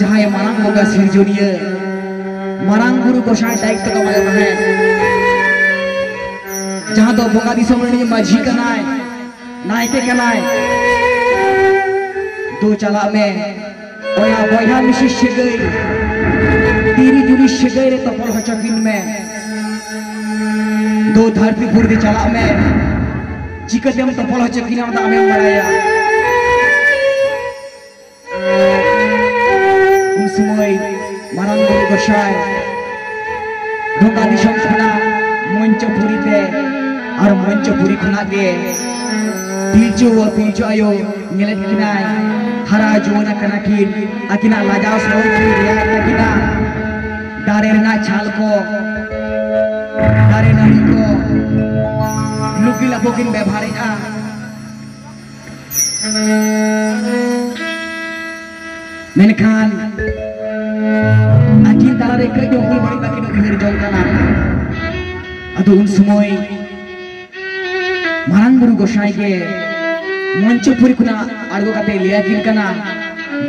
ᱡᱟᱦᱟᱸᱭ ᱢᱟᱨᱟᱝ ᱵᱚᱸᱜᱟ ᱥᱤᱨᱡᱚᱱᱤᱭᱟᱹ ᱢᱟᱨᱟᱝ ᱵᱩᱨᱩ ᱜᱚᱥᱟᱭ ᱫᱟᱭᱤᱛᱛᱚ ᱠᱚ ᱮᱢᱟᱭ ᱛᱟᱦᱮᱸᱫ ᱡᱟᱦᱟᱸ ᱫᱚ ᱵᱚᱸᱜᱟ ᱫᱤᱥᱚᱢ ᱨᱤᱱᱤᱡ ᱢᱟᱹᱡᱷᱤ ᱠᱟᱱᱟᱭ ᱱᱟᱭᱠᱮ ᱠᱟᱱᱟᱭ ᱫᱩ ᱪᱟᱞᱟᱜ ᱢᱮ ᱵᱚᱭᱦᱟ ᱵᱚᱭᱦᱟ ᱢᱤᱥᱤ ᱥᱟᱹᱜᱟᱹᱭ ᱛᱤᱨᱤ ᱡᱩᱨᱤ ᱥᱟᱹᱜᱟᱹᱭ ᱨᱮ ᱛᱚᱯᱚᱞ ᱦᱚᱪᱚ ᱠᱤᱱ ᱢᱮ ᱫᱚ ᱫᱷᱟᱹᱨᱛᱤ ᱯᱩᱨᱫᱤ ᱪᱟᱞᱟᱜ ᱢᱮ ᱪᱤᱠᱟᱹᱛᱮᱢ ᱛᱚᱯᱚᱞ ᱦᱚᱪᱚ ᱠᱤᱱᱟ ᱚᱱᱟ ᱟᱢᱮᱢ ᱵᱟᱲᱟᱭᱟ ᱩᱱ ᱥᱚᱢᱚᱭ ᱢᱟᱨᱟᱝ ᱵᱩᱨᱩ ᱜᱚᱥᱟᱭ ᱰᱷᱚᱠᱟ ᱫᱤᱥᱚᱢ ᱠᱷᱚᱱᱟᱜ ᱢᱚᱧᱪᱚᱯᱩᱨᱤ ᱛᱮ ᱟᱨ ᱢᱚᱧᱪᱚᱯᱩᱨᱤ ᱠᱷᱚᱱᱟᱜ ᱜᱮ ᱯᱤᱞᱪᱩ ᱯᱤᱞᱪᱩ ᱟᱭᱳ ᱧᱮᱞᱮᱫ ᱠᱤᱱᱟᱭ ᱦᱟᱨᱟ ᱡᱩᱣᱟᱹᱱ ᱟᱠᱟᱱᱟ ᱠᱤᱱ ᱟᱹᱠᱤᱱᱟᱜ ᱞᱟᱡᱟᱣ ᱥᱟᱹᱨᱤ ᱠᱤᱱ ᱨᱮᱭᱟᱲ ᱛᱟᱹᱠᱤᱱᱟ ᱫᱟᱨᱮ ᱨᱮᱱᱟᱜ ᱪᱷᱟᱞ ᱠᱚ ᱫᱟᱨᱮ ᱱᱟᱹᱲᱤ ᱠᱚ ᱞᱩᱜᱤ ᱞᱟᱯᱚ ᱠᱤᱱ ᱵᱮᱵᱷᱟᱨᱮᱜᱼᱟ ᱢᱮᱱᱠᱷᱟᱱ ᱟᱹᱠᱤᱱ ᱛᱟᱞᱟᱨᱮ ᱠᱟᱹᱡ ᱦᱚᱸ ᱵᱟᱹᱲᱤᱡ ᱵᱟᱹᱠᱤᱱ ᱩᱭᱦᱟᱹᱨ ᱡᱚᱝ ᱠᱟᱱᱟ ᱟᱫᱚ ᱩᱱ ᱥᱚᱢᱚᱭ ᱢᱟᱨᱟᱝ ᱵᱩᱨᱩ ᱜᱚᱥᱟᱭ ᱜᱮ ᱢᱚᱧᱪᱚᱯᱩᱨᱤ ᱠᱷᱚᱱᱟᱜ ᱟᱬᱜᱚ ᱠᱟᱛᱮ ᱞᱟᱹᱭ ᱟᱹᱠᱤᱱ ᱠᱟᱱᱟ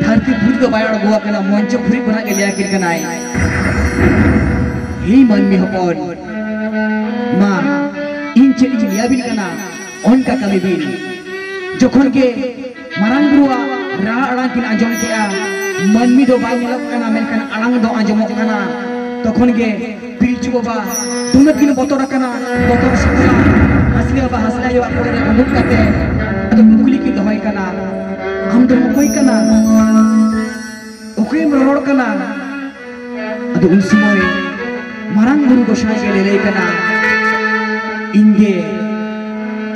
ᱫᱷᱟᱹᱨᱛᱤ ᱯᱩᱨᱤ ᱫᱚ ᱵᱟᱭ ᱟᱬᱜᱚ ᱟᱠᱟᱱᱟ ᱢᱚᱧᱪᱚᱯᱩᱨᱤ ᱠᱷᱚᱱᱟᱜ ᱜᱮ ᱞᱟᱹᱭ ᱟᱹᱠᱤᱱ ᱠᱟᱱᱟᱭ ᱦᱮᱸ ᱢᱟᱹᱱᱢᱤ ᱦᱚᱯᱚᱱ ᱢᱟ ᱤᱧ ᱪᱮᱫ ᱤᱧ ᱞᱟᱹᱭ ᱟᱹᱵᱤᱱ ᱠᱟᱱᱟ ᱚᱱᱠᱟ ᱠᱟᱹᱢᱤ ᱵᱤᱱ ᱡᱚᱠᱷᱚᱱ ᱜᱮ ᱢᱟᱨᱟᱝ ᱵᱩᱨᱩᱣᱟᱜ ᱨᱟᱦᱟ ᱟᱲᱟᱝ ᱠᱤᱱ ᱟᱸᱡᱚᱢ ᱠᱮᱜᱼᱟ ᱢᱟᱹᱱᱢᱤ ᱫᱚ ᱵᱟᱭ ᱧᱮᱞᱚᱜ ᱠᱟᱱᱟ ᱢᱮᱱᱠᱷᱟᱱ ᱟᱲᱟᱝ ᱫᱚ ᱟᱸᱡᱚᱢᱚᱜ ᱠᱟᱱᱟ ᱛᱚᱠᱷᱚᱱ ᱜᱮ ᱯᱤᱞᱪᱩ ᱵᱟᱵᱟ ᱫᱩᱱᱟᱹᱜ ᱠᱤᱱ ᱵᱚᱛᱚᱨ ᱟᱠᱟᱱᱟ ᱵᱚᱛᱚᱨ ᱥᱟᱯᱲᱟᱣ ᱦᱟᱥᱞᱤ ᱵᱟᱵᱟ ᱦᱟᱥᱞᱤ ᱟᱭᱳ ᱟᱜ ᱠᱚᱲᱮ ᱨᱮ ᱩᱰᱩᱠ ᱠᱟᱛᱮ ᱟᱫᱚ ᱠᱩᱠᱞᱤ ᱠᱤᱱ ᱫᱚᱦᱚᱭ ᱠᱟᱱᱟ ᱟᱢ ᱫᱚ ᱚᱠᱚᱭ ᱠᱟᱱᱟ ᱚᱠᱚᱭᱮᱢ ᱨᱚᱲ ᱠᱟᱱᱟ ᱟᱫᱚ ᱩᱱ ᱥᱚᱢᱚᱭ ᱢᱟᱨᱟᱝ ᱵᱩᱨᱩ ᱜᱚᱥᱟᱭ ᱜᱮ ᱞᱟᱹᱭ ᱠᱟᱱᱟ ᱤᱧ ᱜᱮ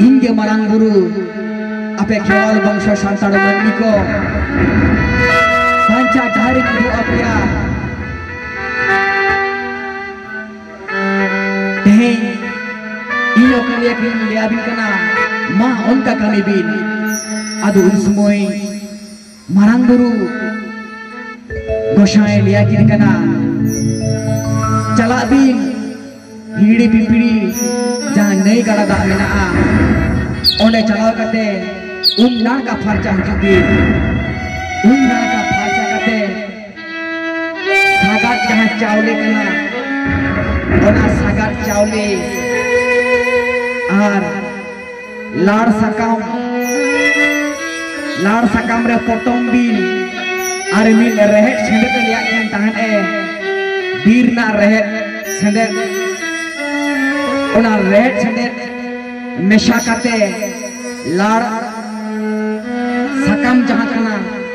ᱤᱧ ᱜᱮ ᱢᱟᱨᱟᱝ ᱵᱩᱨᱩ ᱟᱯᱮ ᱠᱷᱮᱣᱟᱞ ᱵᱚᱝᱥᱚ ᱥᱟᱱᱛᱟᱲ ᱢᱟᱹᱱᱢᱤ ᱠᱚ ᱵᱟᱧᱪᱟᱣ ᱰᱟᱦᱟᱨ ᱤᱧ ᱩᱫᱩᱜ ᱟᱯᱮᱭᱟ ᱛᱮᱦᱮᱧ ᱤᱧ ᱚᱠᱟ ᱨᱮᱭᱟᱜ ᱤᱧ ᱞᱟᱹᱭᱟᱵᱤᱱ ᱠᱟᱱᱟ ᱢᱟ ᱚᱱᱠᱟ ᱠᱟᱹᱢᱤ ᱵᱤᱱ ᱟᱫᱚ ᱩᱱ ᱥᱚᱢᱚᱭ ᱢᱟᱨᱟᱝ ᱵᱩᱨᱩ ᱜᱚᱥᱟᱭ ᱞᱟᱹᱭᱟ ᱠᱤᱱ ᱠᱟᱱᱟ ᱪᱟᱞᱟᱜ ᱵᱤᱱ ᱦᱤᱲᱤ ᱯᱤᱯᱤᱲᱤ ᱡᱟᱦᱟᱸ ᱱᱟᱹᱭ ᱜᱟᱰᱟ ᱫᱟᱜ ᱢᱮᱱᱟᱜᱼᱟ ᱚᱸᱰᱮ ᱪᱟᱞᱟᱣ ᱠᱟᱛᱮ ᱩᱢ ᱱᱟᱲᱠᱟ ᱯᱷᱟᱨᱪᱟ ᱦᱤᱡᱩᱜ ᱵᱤᱱ ᱩᱢ ᱱᱟᱲᱠᱟ ᱯᱷᱟᱨᱪᱟ ᱠᱟᱛᱮ ᱥᱟᱜᱟᱫ ᱡᱟᱦᱟᱸ ᱪᱟᱣᱞᱮ ᱠᱟᱱᱟ ᱚᱱᱟ ᱥᱟᱜᱟᱫ ᱪᱟᱣᱞᱮ ᱟᱨ ᱞᱟᱲ ᱥᱟᱠᱟᱢ ᱞᱟᱲ ᱥᱟᱠᱟᱢ ᱨᱮ ᱯᱚᱴᱚᱢ ᱵᱤᱱ ᱟᱨ ᱢᱤᱫ ᱨᱮᱦᱮᱫ ᱥᱮᱸᱫᱮᱫ ᱞᱮᱭᱟᱜ ᱠᱟᱱ ᱛᱟᱦᱮᱸᱫ ᱮ ᱵᱤᱨ ᱨᱮᱱᱟᱜ ᱨᱮᱦᱮᱫ ᱥᱮᱸᱫᱮᱫ ᱚᱱᱟ ᱨᱮᱦᱮᱫ ᱥᱮᱸᱫᱮᱫ ᱢᱮᱥᱟ ᱠᱟᱛᱮ ᱞᱟᱲ ᱥᱟᱠᱟᱢ ᱡᱟᱦᱟᱸ ᱠᱟᱱᱟ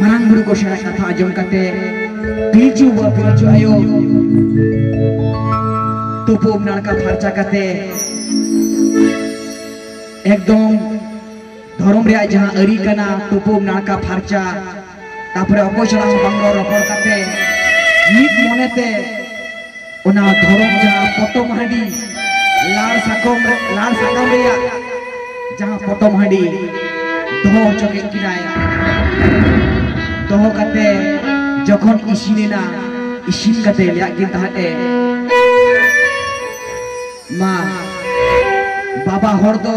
ᱢᱟᱨᱟᱝ ᱵᱩᱨᱩ ᱠᱚ ᱥᱮᱬᱟ ᱠᱟᱛᱷᱟ ᱟᱸᱡᱚᱢ ᱠᱟᱛᱮ ᱯᱤᱞᱪᱩ ᱵᱟ ᱯᱤᱞᱪᱩ ᱟᱭᱳ ᱛᱩᱯᱩ ᱱᱟᱲᱠᱟ ᱯᱷᱟᱨᱪᱟ ᱠᱟᱛᱮ ᱮᱠᱫᱚᱢ ᱫᱷᱚᱨᱚᱢ ᱨᱮᱭᱟᱜ ᱡᱟᱦᱟᱸ ᱟᱹᱨᱤ ᱠᱟᱱᱟ ᱛᱩᱯᱩ ᱱᱟᱲᱠᱟ ᱯᱷᱟᱨᱪᱟ ᱛᱟᱯᱚᱨᱮ ᱚᱠᱚᱭ ᱥᱟᱞᱟᱜ ᱦᱚᱸ ᱵᱟᱝ ᱨᱚᱲ ᱨᱚᱯᱚᱲ ᱠᱟᱛᱮ ᱢᱤᱫ ᱢᱚᱱᱮᱛᱮ ᱚᱱᱟ ᱫᱷᱚᱨᱚᱢ ᱡᱟᱦᱟᱸ ᱯᱚᱴᱚᱢ ᱦᱟᱺᱰᱤ ᱞᱟᱲ ᱥᱟᱠᱚᱢ ᱞᱟᱲ ᱥᱟᱠᱟᱢ ᱨᱮᱭᱟᱜ ᱡᱟᱦᱟᱸ ᱯᱚᱴᱚᱢ ᱦᱟᱺᱰᱤ ᱫᱚᱦᱚ ᱦᱚᱪᱚ ᱠᱮᱫ ᱠᱤᱱᱟᱭ ᱫᱚᱦᱚ ᱠᱟᱛᱮ ᱡᱚᱠᱷᱚᱱ ᱤᱥᱤᱱᱮᱱᱟ ᱤᱥᱤᱱ ᱠᱟᱛᱮ ᱞᱟᱹᱭᱟᱜ ᱠᱤᱱ ᱛᱟᱦᱮᱸᱫ ᱮ ᱢᱟ ᱵᱟᱵᱟ ᱦᱚᱲ ᱫᱚ